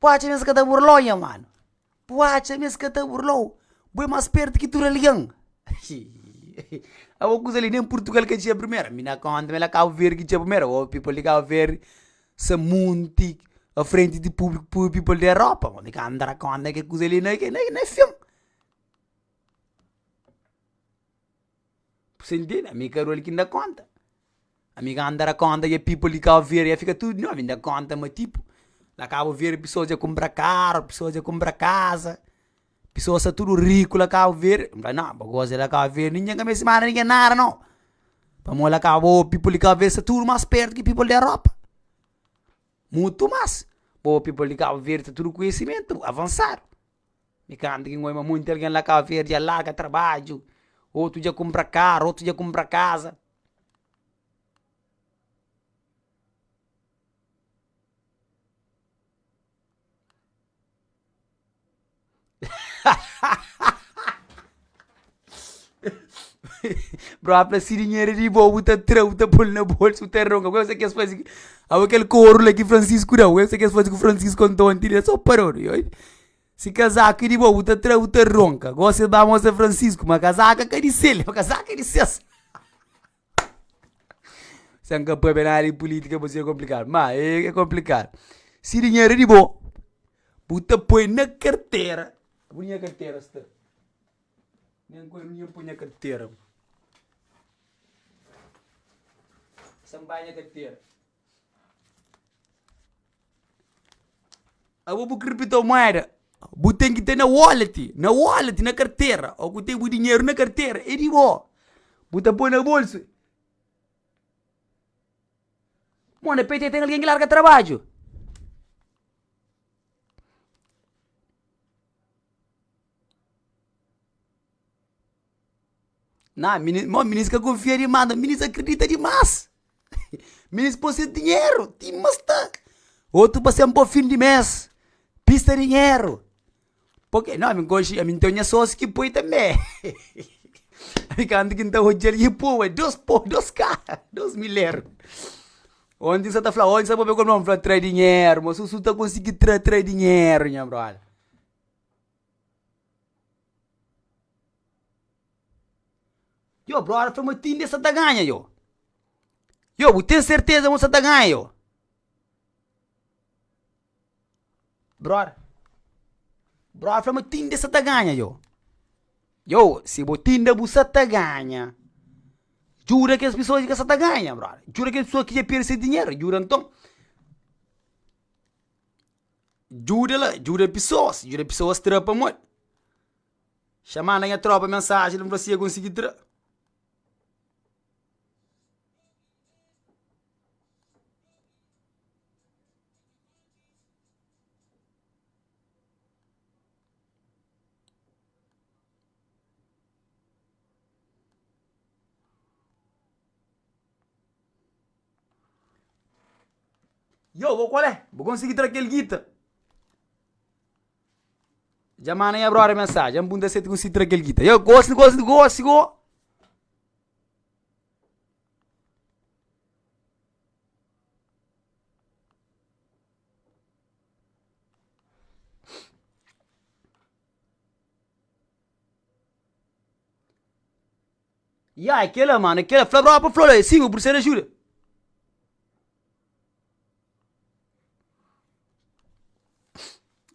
Bu atxa ma es ka ta burla-u, nha manu? Bu atxa ma es ka ta burla-u? Bu é más spértu ki tudu algen! Abo kuza li nen Purtugal ka txiga primeru. Mi na konta ma el é Kabu Verdi ki txiga primeru. Abo people di Kabu Verdi sa monti na frenti di públiku pur people di Europa. Abo mi ka antra konta ke kuza li na fin. Bu sa intende? Ami i Karol ki N da kónta. Ami kantu N ta da kónta nha pipu li Kau Verde dja fika tudu novi, N da kónta ma tipu, la Kau Verde pisoas dja kunpra karu, pisoas dja kunpra kaza, pisoas sa tudu riku la Kau Verde. N fala, nau, ba gosi la Kau Verde, ninjen ka meste manda ninjen nada nau. Pamodi la Kau, bo pipu li Kau Verde sa tudu mas spertu ki pipu di Europa. Mutu mas. Bo pipu li Kau Verde ta tudu konhisimentu avansadu. Mi kantu ki N oi ma monti algen la Kabo Verdi dja larga trabadju, otu dja kunpra karu, otu dja kunpra kaza. Bro, a fla si dinheru é di bo, bu ta tra-l, bu ta pô-l na bolsu, bu ta ronka. Ku es é ki es faze ki. Awe kel koru la ki fransisku da-u, es é ki es faze ku fransisku anton anti li, es sô parodu. I oi, si kazaku é di bo, bu ta tra-l, bu ta ronka. Gosi es ba mostra fransisku, ma kazaka ka di sel, kazaka é di ses. Sa n ka pâpia nada di pulítika pa ser konplikadu. Má, é konplikadu. Si dinheru é di bo, bu ta poi na kartera. Ku nha kartera sta? Nen ku el mi inha poi nha kartera. Sa n bai nha kartera. Abo bu kriptomueda, bu ten ki ten na wallet, na wallet, na kartera, ôu ku ten bu dinheru na kartera é di bo, bu ta poi na bolsu. Bom, na pt ten algen ki larga trabadju. Nah mini mo minis ka konfia dimás na minis akredita dimás minis pô se dinheru ti ma sta otu pa sen pô fin di mes pista dinheru pô ke na minkonxe ami teo nha sósi ki poi tambe ami kantu ki ta odjal ki pô ué dos pô dos kara dos miléru ondi sa ta fla ondi sa bo be komodu fla tra dinheru ma susu ta konsigi tra tra dinheru nha brota. Yo brother fla ma tinde sa ta ganha yo, yo bu ten serteza ma sa ta ganha yo? Brother, brother fla ma tinde sa ta ganha yo, yo si bo tinde bu sa ta ganha, djuda kes pisoas ki ka sa ta ganha brother, djuda kes pisoas ki dja perde se dinheru, djuda anton. Djuda la, djuda pisoas, djuda pisoas tra pamodi. Xa manda nha tropa mensaji la, n fla si e konsigi tra. Yo, bo kual é? Bu konsigi tra kel gita? Dja manda nha brother mensagem, dja-m punta si el ta konsigi tra kel gita. Yo, gosi, gosi, gosi, go! Ya é kela mano, é kela, fla bropa fla lo, é sin, bu prisa di ajuda.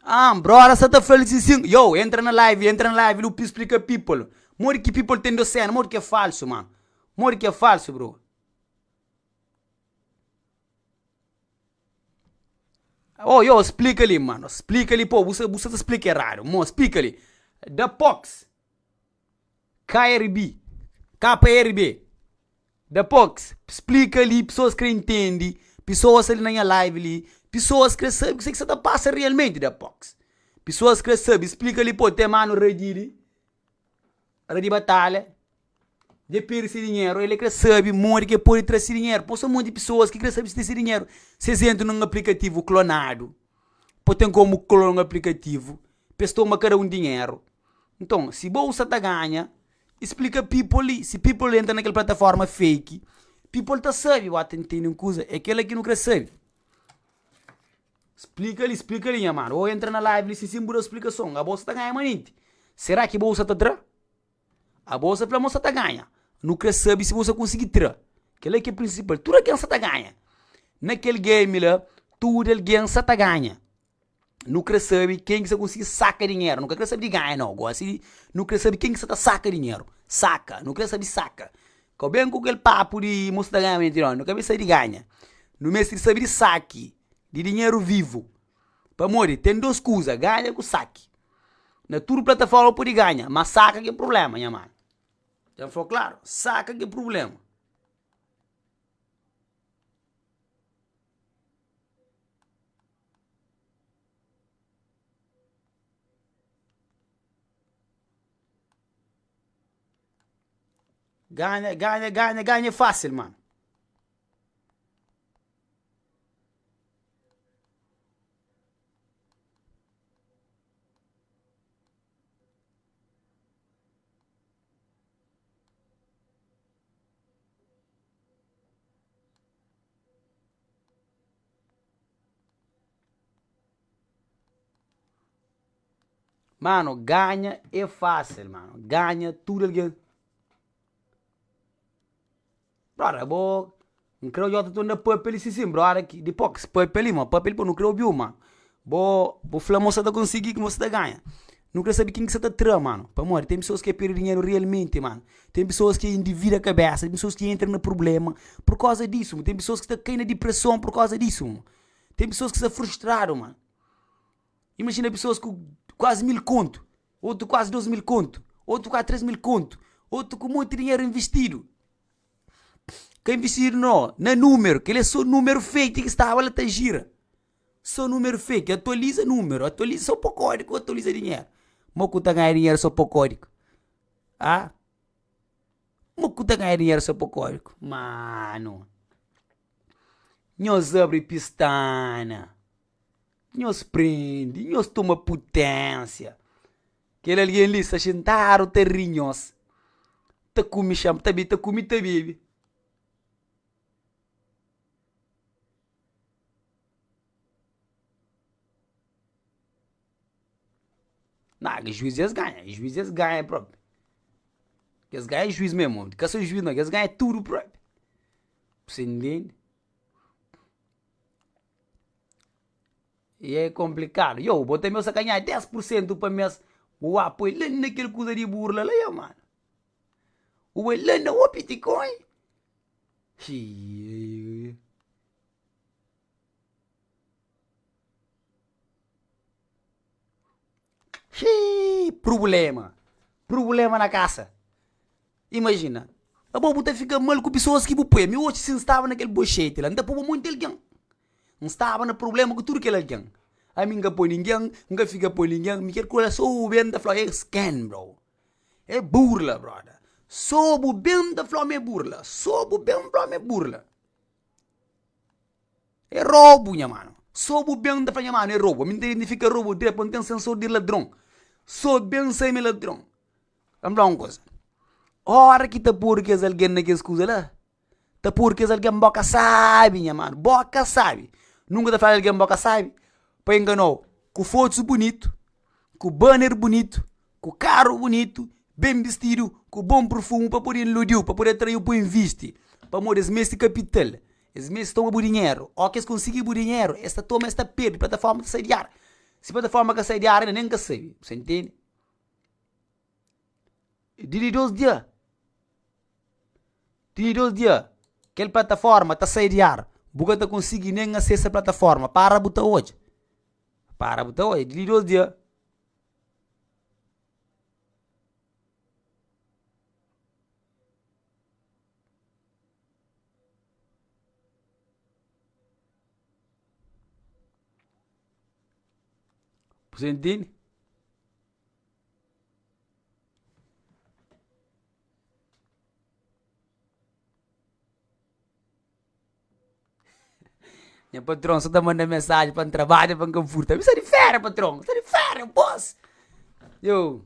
Ahn, broda sa ta fla-l sin sin, yow entra na live, entra na live lu pi splika people, modi ki people ten dos séna, modi ki é falsu mano, modi ki é falsu bro. Ho yow splika li mano, splika li pô, bu sa bu sa ta splika eradu, mo splika li, da pox. KRB, KRB, Dapôs, splika li, pesoas krê intende, pesoas ali na nha live li, pesoas krê sabe kuzê ki sta ta pasa realmenti dapôs. Pesoas krê sabe, splika li, pô, ten manu Radi li, Radi Batalha, dje perde se dinheru, el é krê sabe modi ki el pode tra se dinheru. Pô, so monti pesoas ki krê sabe si ten se dinheru, si es entra nun aplikativu klonadu, Pô ten komu klon aplikativu pa es toma kada un dinheru. Nton, si bolsa ta ganha, i splika people li. Si people entra na kel plataforma fake, people ta sabe, uá, ta ntende un kuza, é kel-la ki nu krê sabe. Splika li, splika li, nha mano. Ô entra na live li sin bu da splikason. A bolsa ta ganha manenti. Será ki bolsa ta tra? Abo sa fla mo sa ta ganha. Nu kre sabi si bo sa konsigi tra. Kela ki é prinsipal. Tudu algen sa ta ganha. Na kel game la, tudu algen sa ta ganha. Nu kre sabi ken ki sa konsigi saka dinheru. Nu ka kre sabi di ganha nau. Gosi nu kre sabi ken ki sa ta saka dinheru. Saka. Nu kre sabi saka. Ka ben ku kel papu di mo sa ta ganha. Nu ka ben sabi di ganha. Nu meste di sabi di saki di dinheru vivu. Pamodi ten dos kuza, ganha ku saki. Na tudu plataforma bu pudi ganha, ma saka ki é prublema, nha mano. Ten fla-u klaru, saka ki é prublema. Ganha, ganha, ganha, ganha é fasil, mano. Mano, ganha é fásil, mano. Ganha tudu algen. Brother bo N kre odjota tu anda papia li si si brother ki di pox papia li ma papia li pa nu kre obiu ma bo bu fla mo sa ta konsigi kuma sa ta ganha nu kre sabi kin ki sa ta tra mano pamodi ten pessoas ke pirdi dinheru realmente mano ten pessoas ki individa kabesa ten pessoas ki entra na problema por koza disu mano ten pessoas ki ta kai na depressão por koza disu mano ten pessoas ki sta frustrado mano. Imajina pesoas ku kuazi mil kontu, otu kuazi dôs mil kontu, otu kuazi três mil kontu, otu ku monti dinheru invistidu. Ka invistidu no, na numeru, kel-li é so numeru fake ki staba la ta jira. So numeru fake, atualiza numeru, atualiza so pa kódigu, atualiza dinheru. Mo ku ta ganha dinheru so pa kódigu? Aa! Mo ku ta ganha dinheru so pa kódigu? Mano! Nhos abri pistana! Nhos prende, nhos toma puténsia. Kel algen li sta xintadu ta ri nhos, ta kume xanpa, ta ta kume i ta bebe. Na, ki juís es ganha, i juís es ganha propi. Es ganha i juís mesmu, ka so juís no, es ganha tudu propi. Bu sa intende? E é konplikadu. Iou, bo tanbe sa ka nha dés pur sentu pa mes, bu ba poi la na kel kuza di burla la iou mano. Bu bai la na o bitcoin. Xii prubléma, prubléma na kasa. Imajina, abo bu ta fika mal ku pesoas ki bu poi. Ami oca si N staba na kel boxeti la, N ta poba monti algen. N staba na prubléma ku tudu kel algen. Ami N ka poi ningen, N ka fika poi ningen. Mi ker ku elas sô bu ben ta fla-u es ken, bro? É burla, brota. Sô bu ben ta fla-m é burla. Sô bu ben fla-m é burla. É robu nha mano. So bu ben ta fla nha mano é robu. Ami n ta identifika robu diretu pabia n ten sensor di ladron. So ben sai mi ladron. Ka n fla-u un kuza, ora ki ta pur kes algen na kes kuza la, ta pur kes algen bo ka sabi, nha mano. Bo ka sabi. Nunka ta fladu algen bo ka sabi pa engana-u ku fotus bunitu, ku banner bunitu, ku karu bunitu, ben bistidu, ku bon purfumu pa pode iludi-u, pa pode atrai-u pa bu invisti. Pamodi es meste kapital. Es meste toma bu dinheru. Óki es konsigi bu dinheru, es ta toma, es ta perde. Plataforma ta sai di ar. Si plataforma ka sai di ar ainda, nen N ka sabe. Bu sta ntende? Di li dos dia, di li dos dia, kel plataforma ta sai di ar. Bu ka ta konsigi nen asesa plataforma. Para bu ta odja. Para bu ta odja. Di li dos dia, Kuzê ntende? Nha patron só ta manda mensagem pa trabalha pa nka furta. Misa de fera, patron. Misa de fera, boss. Yo.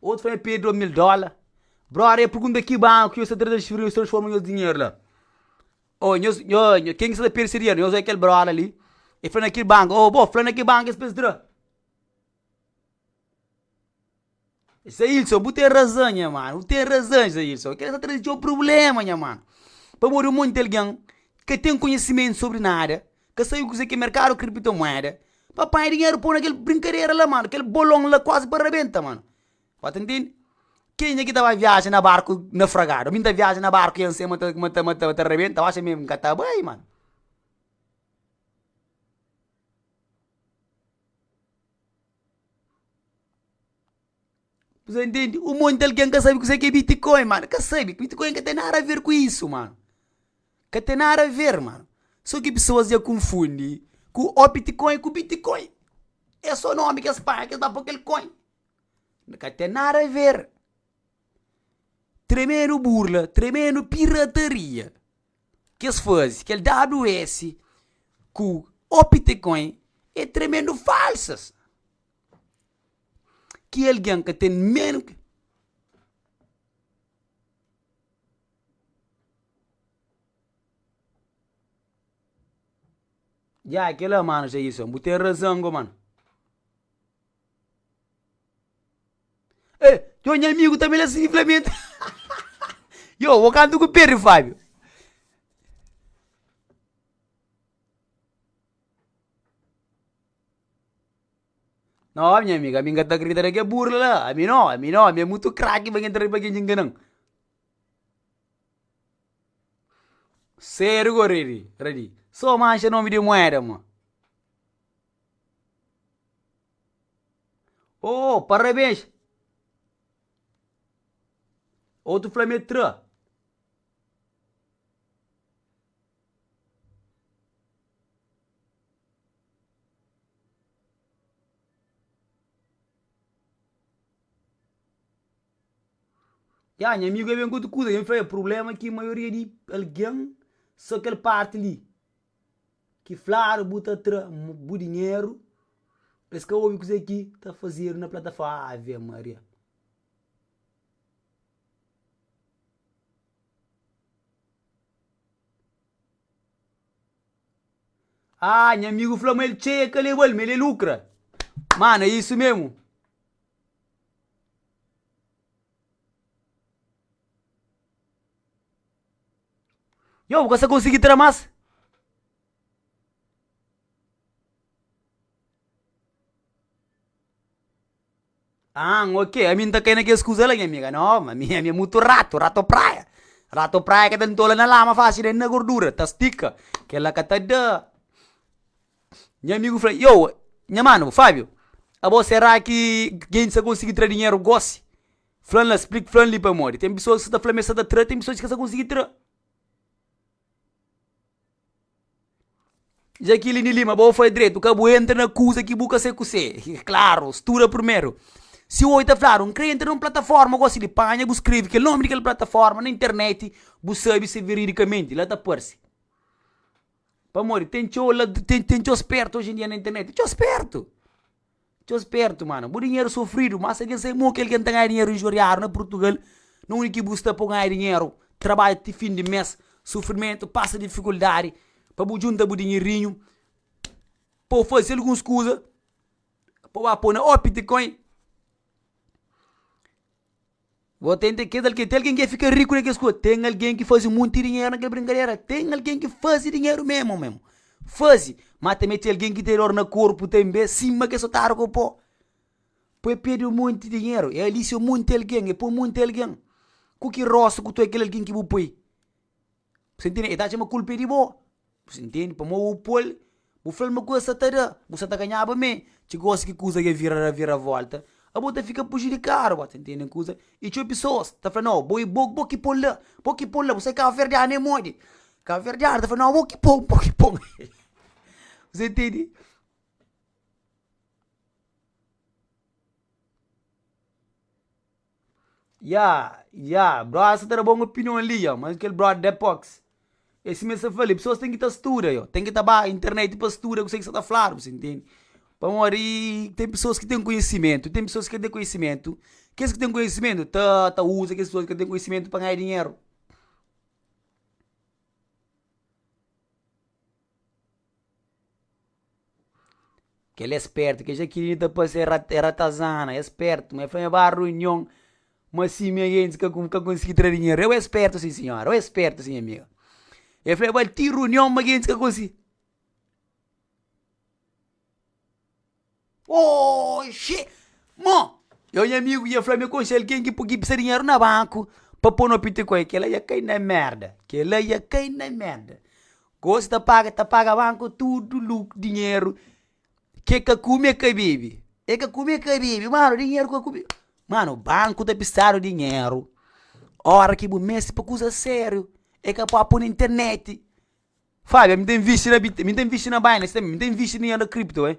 Otu fla, N perde o mil dóla. Brother, e pergunta ki banku ki nhos ta tra transferiu, nhos transforma nhos dinheru la. Ô, nhos, ô, ken ki sta ta perde se dinheru? Nhos oi kel brother li, e fla na ki banku, ô, bo fla na ki banku ki es fla es tra. Isaílson, bu ten razan nha mano, bu ten razan Isaílson, kel-li sta traze txeu prubléma nha mano, pamodi un monti algen ka ten konhisimentu sobri nada, ka sabe kuzê ki é merkadu kriptomuéda, pa panha dinheru pô-u na kel brinkadera la mano, kel bolon la kuazi pa rabenta mano, ba ta ntende? Kenha ki ta bai viaja na barku nafragadu? Ami n ta viaja na barku i anse ma ta ma ta ma ta ma ta rabenta, bu axa mésmu ki n ka ta bai mano? Kuze intendi? Un monti algen ka sabe kuzê ki é bitcoin, mano. Ka sabe. Bitcoin ka ten nada a ver ku isu, mano. Ka ten nada a ver, mano. Sô ki pesoas dja konfundi ku optcoin ku bitcoin. É sô nomi ki es panha, ki es ba pô kel coin. Ka ten nada a ver. Tremendo burla, tremendo pirataria. ki es fazi, kel dadu es ku optcoin e tremendu falsas ki algen ka ten men Ya e kila mano Jailson bu ten razan ku mano. Ê, txeu nha amigu ta bela si flamenta. Yo, bo kantu ku perde Fabio. No nha amigu, ami nka ta kridita na ke burla la, ami no, ami no, ami e mutu kraki pa ngen tra pa kenji nganan. Sedu ku redi, redi, so manxa nomi di moeda mo. Ooh parabéns! Otu fla-m é tra. Ya nha amigu é ben ku otu kuza, dja mi fla el, prubléma ki maioria di algen, sô kel párti li. Ki flaru bu ta tra bu dinheru pa es ka obi kuzê ki ta fazedu na plataforma Ave Maria. Haa nha amigu fla ma el txeia ka lebal ma el é lukra. Mana é isu memu. Yo, bu ka sa konsigi tra mas. Ahan, ok, ami n ta kai na kes kuza la, nha amiga. No, ma mi, ami é mutu ratu, ratu praia. Ratu praia ka ta ntola na lama faxi, nen na gordura, ta stika. Kel la ka ta da. Nha amigu fla, yo, nha mano, Fabio, abo sera ki gen sa konsigi tra dinheru gosi? Fla-m la, splik fla-m li pamodi ten pesoas ki sa ta fla ma es sa ta tra, ten pesoas ki ka sa konsigi tra. Jakiline Lima, Ba ôu fla dretu, ka bu entra na kuza ki bu ka sai kusé. Klaru, studa purmeru. Si ôu i ta fladu, N kre entra na un plataforma gosi li, panha bu skrebe kel nomi di kel plataforma na interneti, bu sabe si veridikamenti la ta parse. Pamodi ten txeu lad-, ten txeu spertu oji-n-dia na interneti. Txeu spertu! Txeu spertu mana, bu dinheru sofridu, má si algen sai mo ki algen ta ganha dinheru injuriadu na Purtugal, na undi ki bu sta pa bu ganha dinheru, trabadja ti fin di mês, sufrimentu, pasa difikuldadi pa bu djunta bu dinherinhu, pa bu faze alguns kuza, pa bu ba pô na optcoin. Bo ta entende kes algen. Ten algen ki e fika riku na kes kuza. Ten algen ki faze monti dinheru na kel brinkadera. Ten algen ki faze dinheru memu memu. Faze. Má tanbe ten algen ki ten dór na korpu tanbe sima kes otáriu ku bo. Pô e perde un monti dinheru. E alisia un monti algen. E poi monti algen. Ku ki rosa ku toi kel algen ki bu poi? Bu sa ntende? E ta atxa ma kulpa é di bo, bu sa ntende? Pamodi bu pô-l, bu fla-l ma kuza sa ta da, bu sa ta ganhaba me. Txeu gósi ki kuza ka vira viravolta, abo ta fika prujudikadu, bo ta ntende un kuza? I txeu pesoas ta fla, nau, bo i bo, bo ki pô-l la, bo ki pô-l la, bu sai kabuverdianu é modi. Kabuverdianu ta fla, nau, bo ki pô-l, bo ki pô-l. Bu sa ntende? Ya ya brother sa ta da bon opinion li ya mas kel brother da pox e sima el sa fla li pesoas ten ki ta studa yo ten ki ta ba internet pa studa kuse ki sa ta fladu si intende pamodi ten pesoas ki ten konhisimentu ten pesoas ki ka ten konhisimentu kes ki ten konhisimentu ta ta uza kes pesoas ki ka ten konhisimentu pa ganha dinheru. Kel é spértu, kel jakirini ta pase ra- é ratazana, é spértu, ma el fla ma el ba runion, ma si nha gentis ka ka konsigi tra dinheru, eu é spértu si senhora, eu é spértu si nha amiga, el fla ba ti runion ma gentis ka konsi. Oxi! Mo! Eu nha amigu ia fla-me konxe algen ki pki pisa dinheru na banku pa po no pitikoi, kela ia kai na merda, kela ia kai na merda. Gosi ta paga, ta paga banku tudu lu dinheru ke ka kume e ka bebe, e ka kume e ka bebe, mano dinheru ka kume. Mano, banku ta pisadu dinheru ora ki bu meste pa kuza seriu, e ka pua po na interneti. Fabia, mi ta invisti na bit, mi ta invisti na Binance tanbe, mi ta invisti dinheru na crypto eh.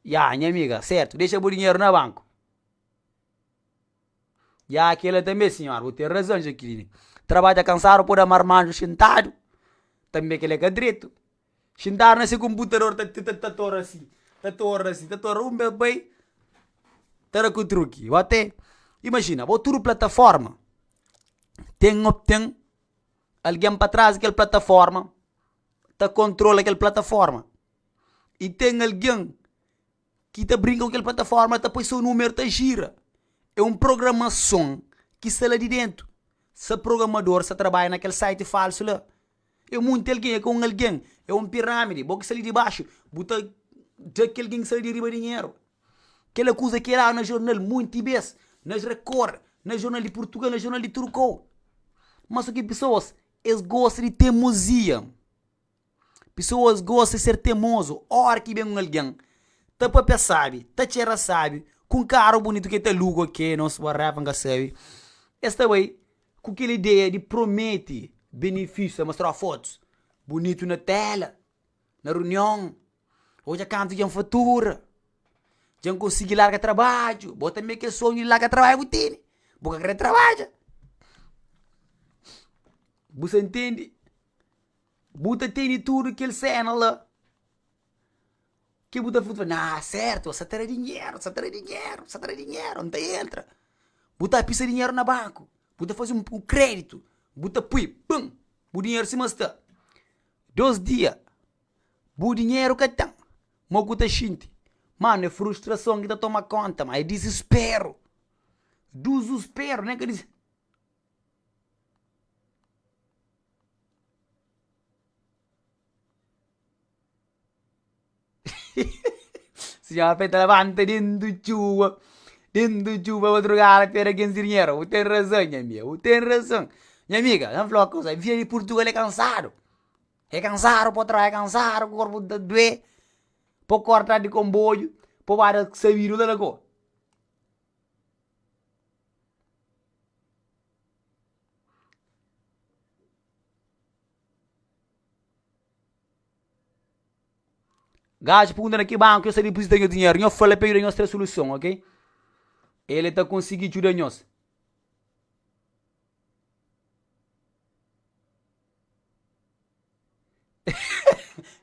Ya, nha amiga, sertu, dexa bu dinheru na banku. Ya, kila tanbe sinhora, bu ten razon, Jaqueline. Trabadja kansadu pode amar manju xintadu, tanbe kila ka dretu. Xintadu na se konputador ta ta torra si, ta torra si, ta torra un bes bai ta da ku truki. Bo te imajina, bo tudu plataforma ten ten algen pa tras di kel plataforma ta kontrola kel plataforma i ten algen ki ta brinka ku kel plataforma ta poi so numeru ta jira. É un programason ki sta la di dentu. Sa programador sa trabadja na kel site falsu la. É monti algen, é ka un algen, é un pirámidi. Bo ki sali di baxu, bu ta dja kel algen ki sali di riba dinheru. Kel akuza ki é dadu na jornal monti bes, na Record, na jornal di Purtugal, na jornal di tudu kau. Má só ki pesoas es gosta di temozia. Pesoas gosta di ser temozu. Óra ki ben un algen ta pâpia sábi, ta txera sábi, ku un karu bunitu ki el ta aluga o ke, nos whatever, N ka sabe, es ta bai. Ku kel ideia di promete benefísius, ta mostraba fotus bunitu na téla, na runion, odja kantu dja N fatura, dja N konsigi larga trabadju. Bo tanbê kel sonhu di larga trabadju bu tene? Bu ka krê trabadja? Bu sta ntende? Bu ta tene tudu kel séna la Ke bu ta fla, nah sertu sa tra dinheru, sa tra dinheru, sa tra dinheru, n'ta entra. Bu ta pisa dinheru na banku, bu ta fasi un um kreditu, bu ta pui pum, bu dinheru sima sta. Dos dia bu dinheru ka ten, mo ku ta xinti? Mano e frustrason ki ta toma konta ma, e disisperu, duzusperu ne ka dis. Sinhora Penta labanta dendu txuba, dendu txuba madrugada pé da ken zirinheira, u ten razon nha amiga, u ten razon. Nha amiga, na fla-u ma kusa, vida di Purtugal é kansadu, é kansadu, po trabadja kansadu, ku korpu ta dué, po korda atrás di konboiu, po bada sabidu u ta da ko. Gajo pergunta na ki banku ki nhos ta dipuzita nhos dinheru. Nhos fla-l pa el djuda nhos tra suluson, ok? El ta konsigi djuda nhos.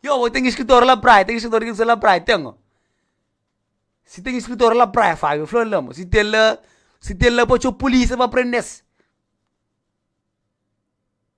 Yo, bo ten iskritóriu la praia? Ten iskritóriu di la praia? Ten oh. Si ten iskritóriu la praia, Fabio, fla-m la mo. Si ten la, si ten la pa txeu pulísia pa prende-s.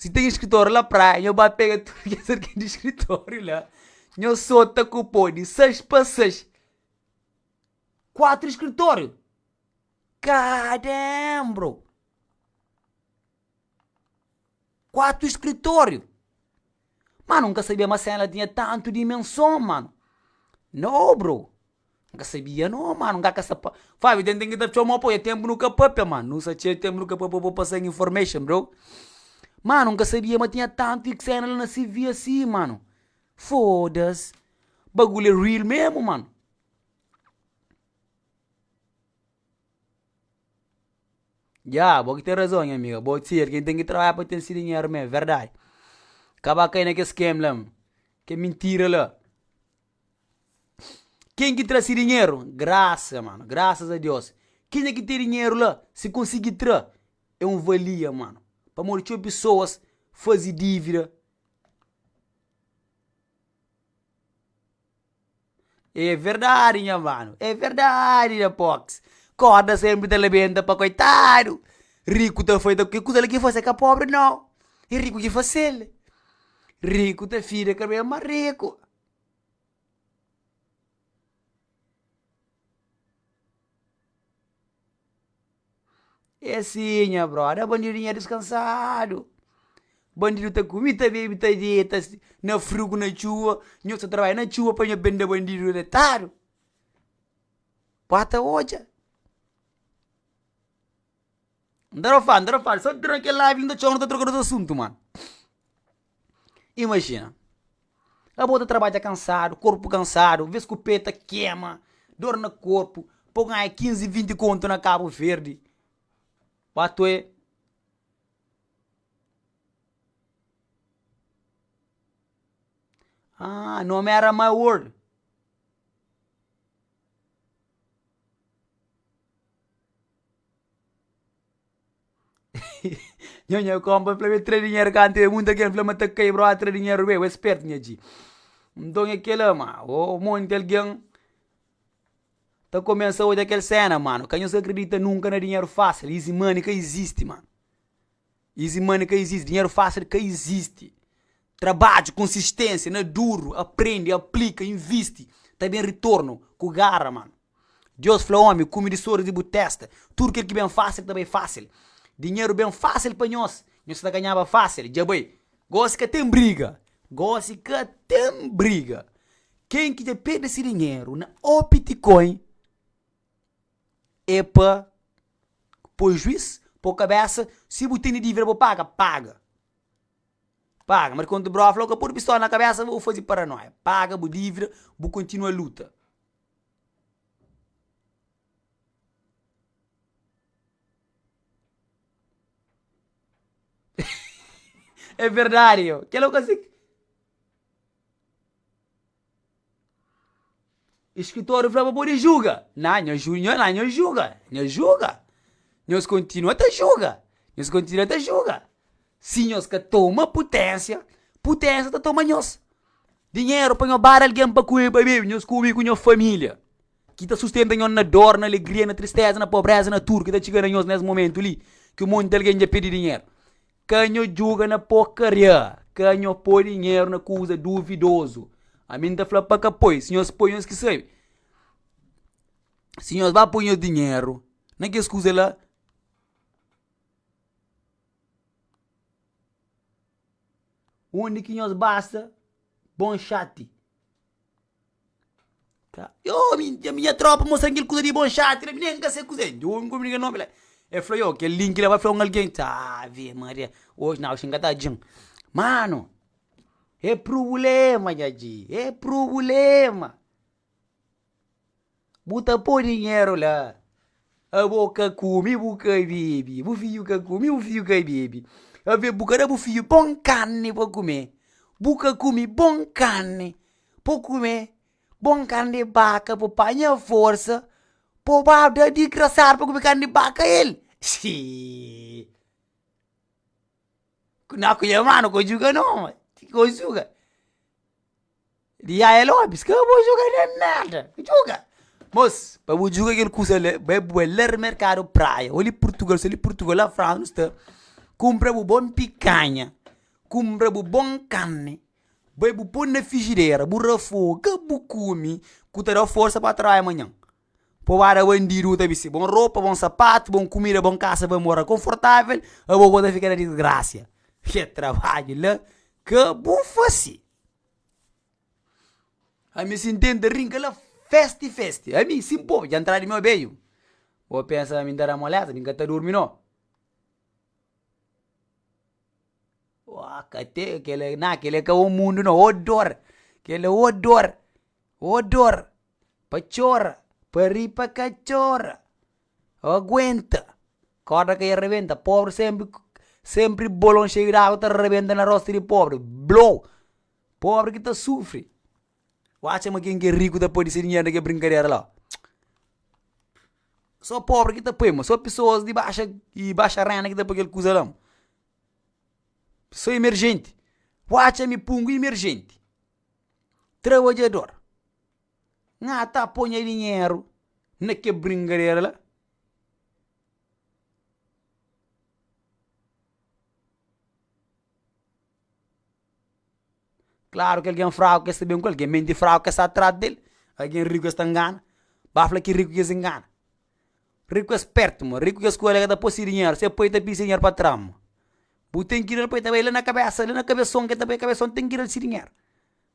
Si ten skritóriu la praia nho ba pega tudu kes algen di skritóriu la nho sota ku po di sais pa sais kuatru skritóriu kaa damn bro kuatru skritóriu mano nka sabia ma sen la tinha tantu dimenson mano no bro N ka sabia no mano, n ka ka sa pa. Fabio ten ten ki ta txomó pô, e tenpu nu ka papia mano, nu sa txeu tenpu nu ka papia bo pasa information bro. Mano, n ka sabia ma tinha tantu sena la na CV asi mano. Foda-s! Bagulho é real mesmo mano. Jah, bo ki ten razon nha amiga, bo di ser ken ten ki trabadja pa ten si dinheru mesmo, verdade. Kaba kai na kes scam la, ke mintira la. Ken ki tra si dinheru? Grasa mano, grasas a Deus. Kenha ki ten dinheru la, si konsigi tra, é un valia mano. Pamodi txeu pesoas fazi dívida. É verdadi nha mano, é verdadi nha pox. Korda senpri ta labenta pa koitadu. Riku ta fai ta ke kuza la ki fase ka pobri nau. E riku ki fasel. Riku ta fida ka ben ma riku. É sim nha brother, bandidu nha diskansadu, bandidu ta kumi, ta bebi, ta dita, na friu ku na txuwa, nhos ta trabadja na txuwa pa nhos benda bandidu retadu, bota odja. N ta dra fal, n ta dra fal, sa dra kel live inda txeu nu ta troka nos asuntu mano. Imajina, abo ta trabadja kansadu, korpu kansadu, ves ku pe ta kema, dor na korpu, pa bu ganha 15, 20 kontu na Kabu Verdi, patoe haa nomi era My World. Nho nha konpa fla be tra dinheru ka ante mun ta kre fla ma ta kai bro a tra dinheru be we spertu nha dji nton é kela ma o monti algen ta komensa odja kel sena mano ka nhos ka kridita nunka na dinheru fasil izi money ka izisti mano. Easy money ka existe, dinheiro fácil ka existe. Trabadju, konsistênsia, na duru, aprende, aplika, invisti, ta ben ritornu, ku garra, mano. Deus fla omi, kumi di soris di bu testa, tudu kel ki ben fácil ta bai fácil. Dinheru ben fácil pa nhos, nhos ta ganhaba fácil, dja bai. Gósi ka ten briga, gósi ka ten briga. Ken ki dja perde si dinheru na Opticoin. é pa poi juiz po kabesa si bu tene divida bo paga paga paga ma di konta broa fla oka podi pistola na kabesa bo fazi paranoia paga bu divida bu kontinua luta é verdadi kel oka si Iskritor fla pa pode juga, na nha ju-nha na nha juga, nha juga, nhos kontinua ta juga, nhos kontinua ta juga, si nhos ka toma puténsia, puténsia ta toma nhos, dinheru pa nhos bada algen pa kume pa bebe, nhos kume ku nhos família, ki ta sustenta nhos na dor, na alegria, na tristéza, na pobréza, na tudu ki ta txiga na nhos nes momentu li, ki monti algen dja perde dinheru. Ka nho djuga na pô karia, ka nho pô dinheru na kuza duvidozu. Ami N ta fla pa ka poi, si nhos poi nhos ki sabe. Si nhos ba poi nhos dinheru na kes kuza la, undi ki nhos basa, bon xati. Ka, Ioh, mi nha minha tropa mostra-m kel kuza di bon xati la, mi nen ka sai kuza é. Djon ku brinka nomi la. El fla, Ioh, kel linki la bai fla un algen. Ave Maria, oji nau si N ka ta dja-m. Mano, é prubulema nha dji, é prubulema. Bu ta pô dinheru la. Abo ka kume, bu ka bebe. Bu fiju ka kume, bu fiju ka bebe. Ave, bu ka da bu fiju bon karni pa kume. Bu ka kume bon karni. Po kume bon karni di baka, po panha forsa, po ba da digrasadu pa kume karni di baka el. Xii. Ku na ku nha mano, ku juga no. Ku juga. Di Yaya Lopes, ka bo juga na nada, juga! Mos, pa bu juga kel kusa la, bai bu bai la merkadu Praia, o li Purtugal, si li Purtugal, la Fransa nu sta, kunpra bu bon pikanha, kunpra bu bon karni, bai bu pô na fijidera, bu rafoga, bu kume, ku ta da-u forsa pa trabalha manhan. Pa bu ba da bandidu bu ta bisti bon ropa, bon sapatu, bon kumida, bon kasa, bai mora konfortavel, abo ku bo ta fika na disgrasia. Ke trabadju la ka bu fasi! Ami sin tenta rinka la festi festi, ami sin po dja ntra di mi obeyu. Bo pensa ma mi nta da molesa, mi nka ta durmi no. Oa ka te kele na kele ka o mundu no, o dor, kele o dor, o dor, pa tchora, pa ri pa ka tchora. Â aguenta, kórda ka ia rebenta, pobri sénpri sénpri bolon xeiu di água ta rebenta na rosta di pobri, blou! Pobri ki ta sufri. Bu atxa ma ken ki é riku ta pârdi se dinheru na ke brinkadera la? Sô pobri ki ta poi mo, sô pisoas di baxa di baxa rénda ki ta poi kel kuza la mo, sô imerjenti. Bu atxa mi pungu imerjenti, trabadjador. Nha ta pô nha dinheru na kel bringadera la. Klaru ki algen fraku ka es ta ben ku el, algen menti fraku ka es ta atrás del, algen riku es ta ngana. Ba fla ki riku ki es ngana? Riku es pertu mo, riku ki es kolhe ka ta pô se dinheru, se pô el ta pidi se dinheru pa tra mo. Bu ten ki dal pa el, ta bai la na kabesa, la na kabeson, ki el ta bai kabeson, ten ki dal se dinheru.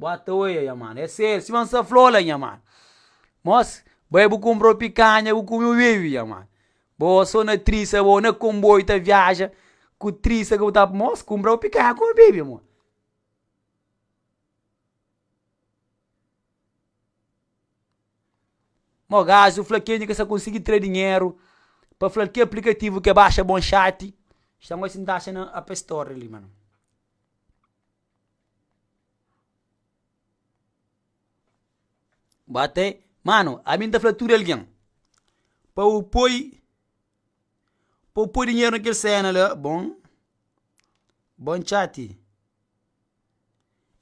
Bo ata oia nha mana, é sério, sima N sta fla-u la nha mana. Mos, bai bu kunpra u pikanha, bu kume u bebe nha mana. Bo so na trisa bo, na konboiu ta viaja ku trisa ku bu ta. Mos, kunpra bu pikanha kume u bebe nha mana. Mo gazi u fla kel di ka sa konsigi tra dinheru pa fla-l ke aplikativu ke baxa bon xati, xta ngosi N ta atxa na app store li mana. Bo até, mano, ami nta fla tude algen, pa u poi, pa u poi dinheiro na kel sena la, bon, bon txati,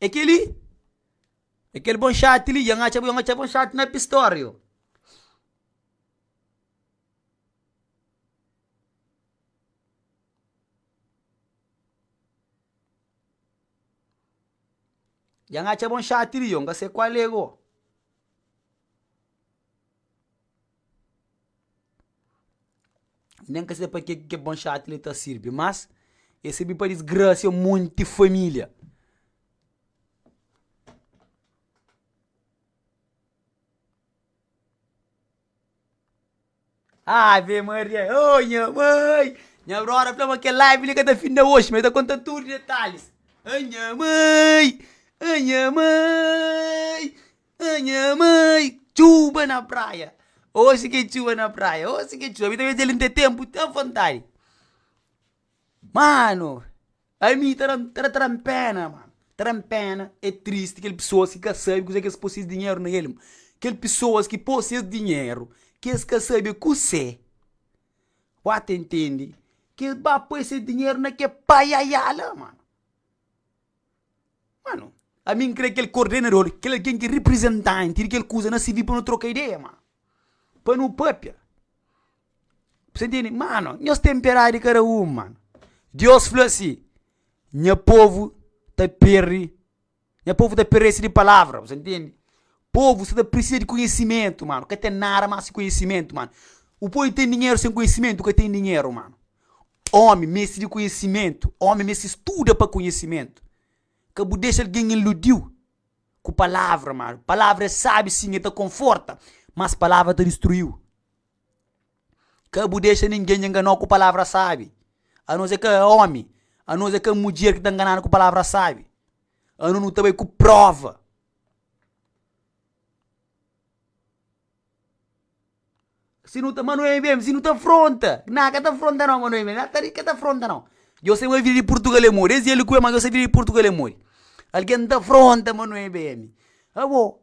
é kel li, é kel bon txati li, nhos atxa, nhos atxa bon txati na pistóriu. Dja N atxa-bo un xati li, ô N ka se kual é go. Nen ka se pa ke ki kel bon xati li ta sirbi, mas e sirbi pa disgrasia un monti família. Ave Maria, oh nha mãe! Nha brora fla ma kel live li ka ta finda oxi, ma el ta konta tudu detalis. Ah nha mãe, ah nha mãe, ah nha mãe! Txuba na praia, oxi ki é txuba na praia, oxi ki é txuba. Mi ta odja-l nte ténpu, ta vontadi. Mano, ami ta da-m, ta da tra-m pena, mano. Ta da-m pena, é tristi kel pesoas ki ka sabe kuzê ki es pô ses dinheru na el. Kel pesoas ki pô ses dinheru, ki es ka sabe kuzê, wóu ta intende, ki es ba pô ses dinheru na ke paiaiai la, mano. Mano, ami N krê kel kordenador, kel algen ki reprizentanti di kel kuza na sirbi pa nu troka ideia, mano. Pa nu pâpia. Bu ta ntende? Mano, nhos ten piedadi di kada un, mano. Deus fla si, Nha povu ta perde, nha povu ta perese di palavra. Bu ta ntende? Povu sta ta pirsisa di konhisimentu, mano. Ka ten nada más ki konhisimentu, mano. O poi ten dinheru sen konhisimentu ka ten dinheru, mano. Ómi meste di konhisimentu. Ómi meste studa pa konhisimentu. Ka bu dexa algen iludiu ku palavra malu. Palavra é sabi sin, e ta konforta, mas palavra ta distruiu. Ka bu dexa ningen enganou ku palavra sabi. Anos é ka ómi, anos é ka mudjer ki ta nganadu ku palavra sabi. Anos nu ta bai ku prova. Si nu ta, ma nu é mim, si nu ta fronta, na ka ta fronta nau ma nu é mim, na ta ri ka ta fronta nau. Djo sai ma vida di Purtugal é modi, es di Alikue ma djo sai vida di Purtugal é modi. Algen ta fronta ma nu é mim. Abo,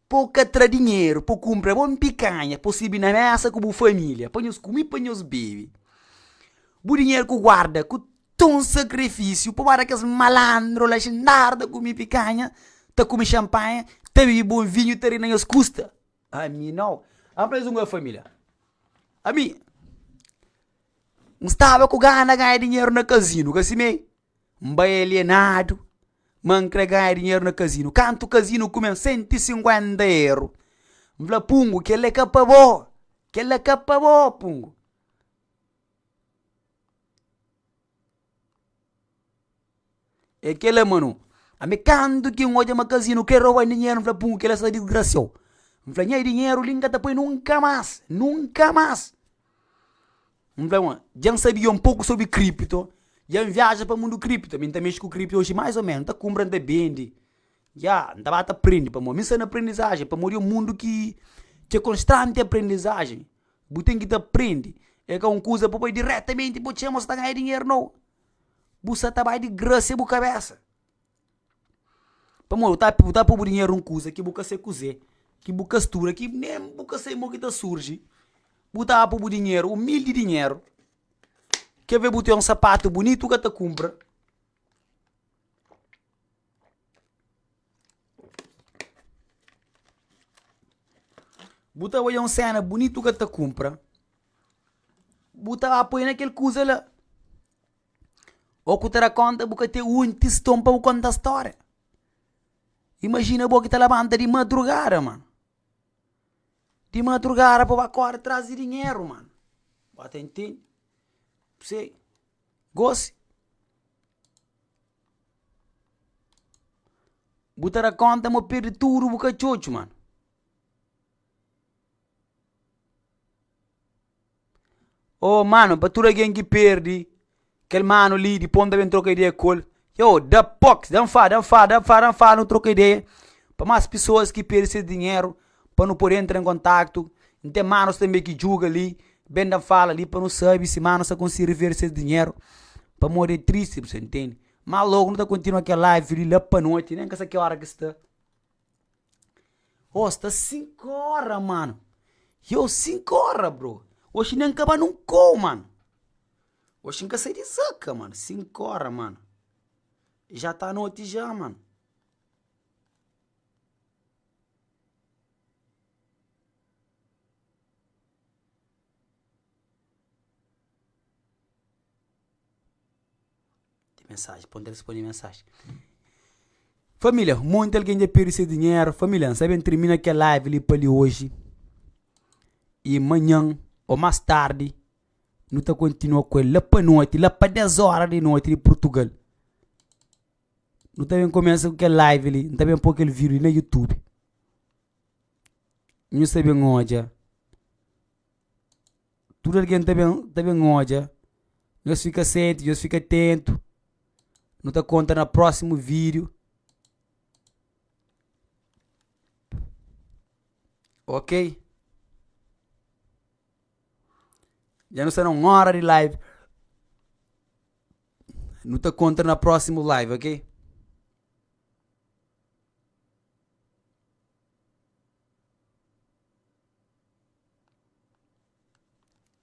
pa o ka tra dinheru pa o kumpra bo un pikanha pa o sirbi na mesa ku bu familia, pa nhos kumi, pa nhos bebe. Bu dinheru ku guarda ku tun sakrifisiu pabada kes malandro la xindaru ta kumi pikanha, ta kumi xanpanha, ta bibi bon vinhu, ta ri na nhos kusta. Ami nau. Apa es un goa família. Ami N staba ku gana ganha dinheru na kazinu, ka simé? N bai alienadu, ma N krê ganha dinheru na kazinu. Kantu kazinu kume-m sentu i sinkuénta eru, N fla, Pungu, kel-la é ka pa bo! Kel-la é ka pa bo, Pungu! É kela, mano. Ami kantu ki n'odja makazinu krê roba dinheru, n'fla pum, kela sa disgrasiau. N'fla nha dinheru li n'ka ta poi nunka mas, nunka mas! N'fla ma, dja n'sabia un poku sobri kripto, dja n'viaja pa mundu kripto, ami n'ta mexe ku kripto oji mais ou menos, n'ta kunbra, n'ta bendi, ya, n'ta ba ta prende pamodi mi sta na aprendizajen, pamodi é un mundu ki ki é konstanti aprendizajen. Bu ten ki ta prende, e ka un kuza pa bai diretamenti pa txeu, ma sa ta ganha dinheru nau. Bu sa ta bai di grasa e bu kabesa. Pamodi bu ta bu ta pui bu dinheru nun kuza ki bu ka sai kuzê, ki bu ka studa, ki nen bu ka sai mo ki ta surji. Bu ta pui bu dinheru, umildi dinheru, ke ve bu ten un sapatu bunitu ka ta kumpra. Bu ta odja un séna bunitu ka ta kunpra, bu ta ba poi na kel kuza la. Ô ku ta da kónta bu ka ten unhu tiston pa bu konta stória. Imajina bo ki ta labanta di madrugada ma, di madrugada pa bu ba kóre trazi dinheru ma, ba ta intende? Gosi. Bu ta da konta ma bu perde tudu bu ka txotxo mano. Ô mano, pa tudu algen ki perde kel mano li dipô n'ta ben troka ideia ku el, ioô da dan fala, dan fala, dan fala, dan fala, nu troka ideia, pa más pesoas ki perde ses dinheru pa nu pode entra en kontaktu, n ten manus tanbe ki djuga li, ben da-m fala li pa nu sabe si manus ta konsi rivera ses dinheru, pamodi é tristi, bu sta ntende. Má lógu nu ta kontinua kel live li la pa noti, nen ka sa ki óra ki sta. Ôô sta sinku óra, mano! Yôu, sinku óra, bro! Oxi nen kaba nun kôu, mano! Oxi n ka sai di zaka, mano, sinku óra, mano! Já ta noti já, mano! Mensagem, pô-m ta responde mensagem. Família, monti algen dja perde se dinheru. Família, N sabe N tirmina kel live li pa li oji. I manhan ô más tardi nu ta kontinua ku el la pa noti, la pa des óra di noti di Purtugal. Nu ta ben kumesa ku kel live li, N ta ben po kel video li na youtube. Nhos ta ben odja, tudu algen ta ben ta ben odja, nhos fika sente, nhos fika tentu. Nu ta konta na prósimu video. Ok? Dja nu sta na un óra di live. Nu ta kontra na prósimu live, ok?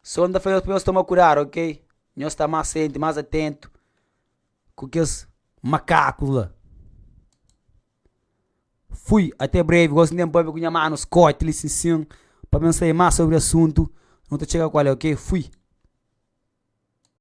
Sô N ta fla nhos pa nhos toma kudadu, ok? Nhos sta más senti, más atentu ku kes makakus la. Fui, até breve, gosi N ten pâpia ku nha manu Scott li sin sin pa mim sai más sobri asuntu, nu ta txega ku ale, ok? Fui.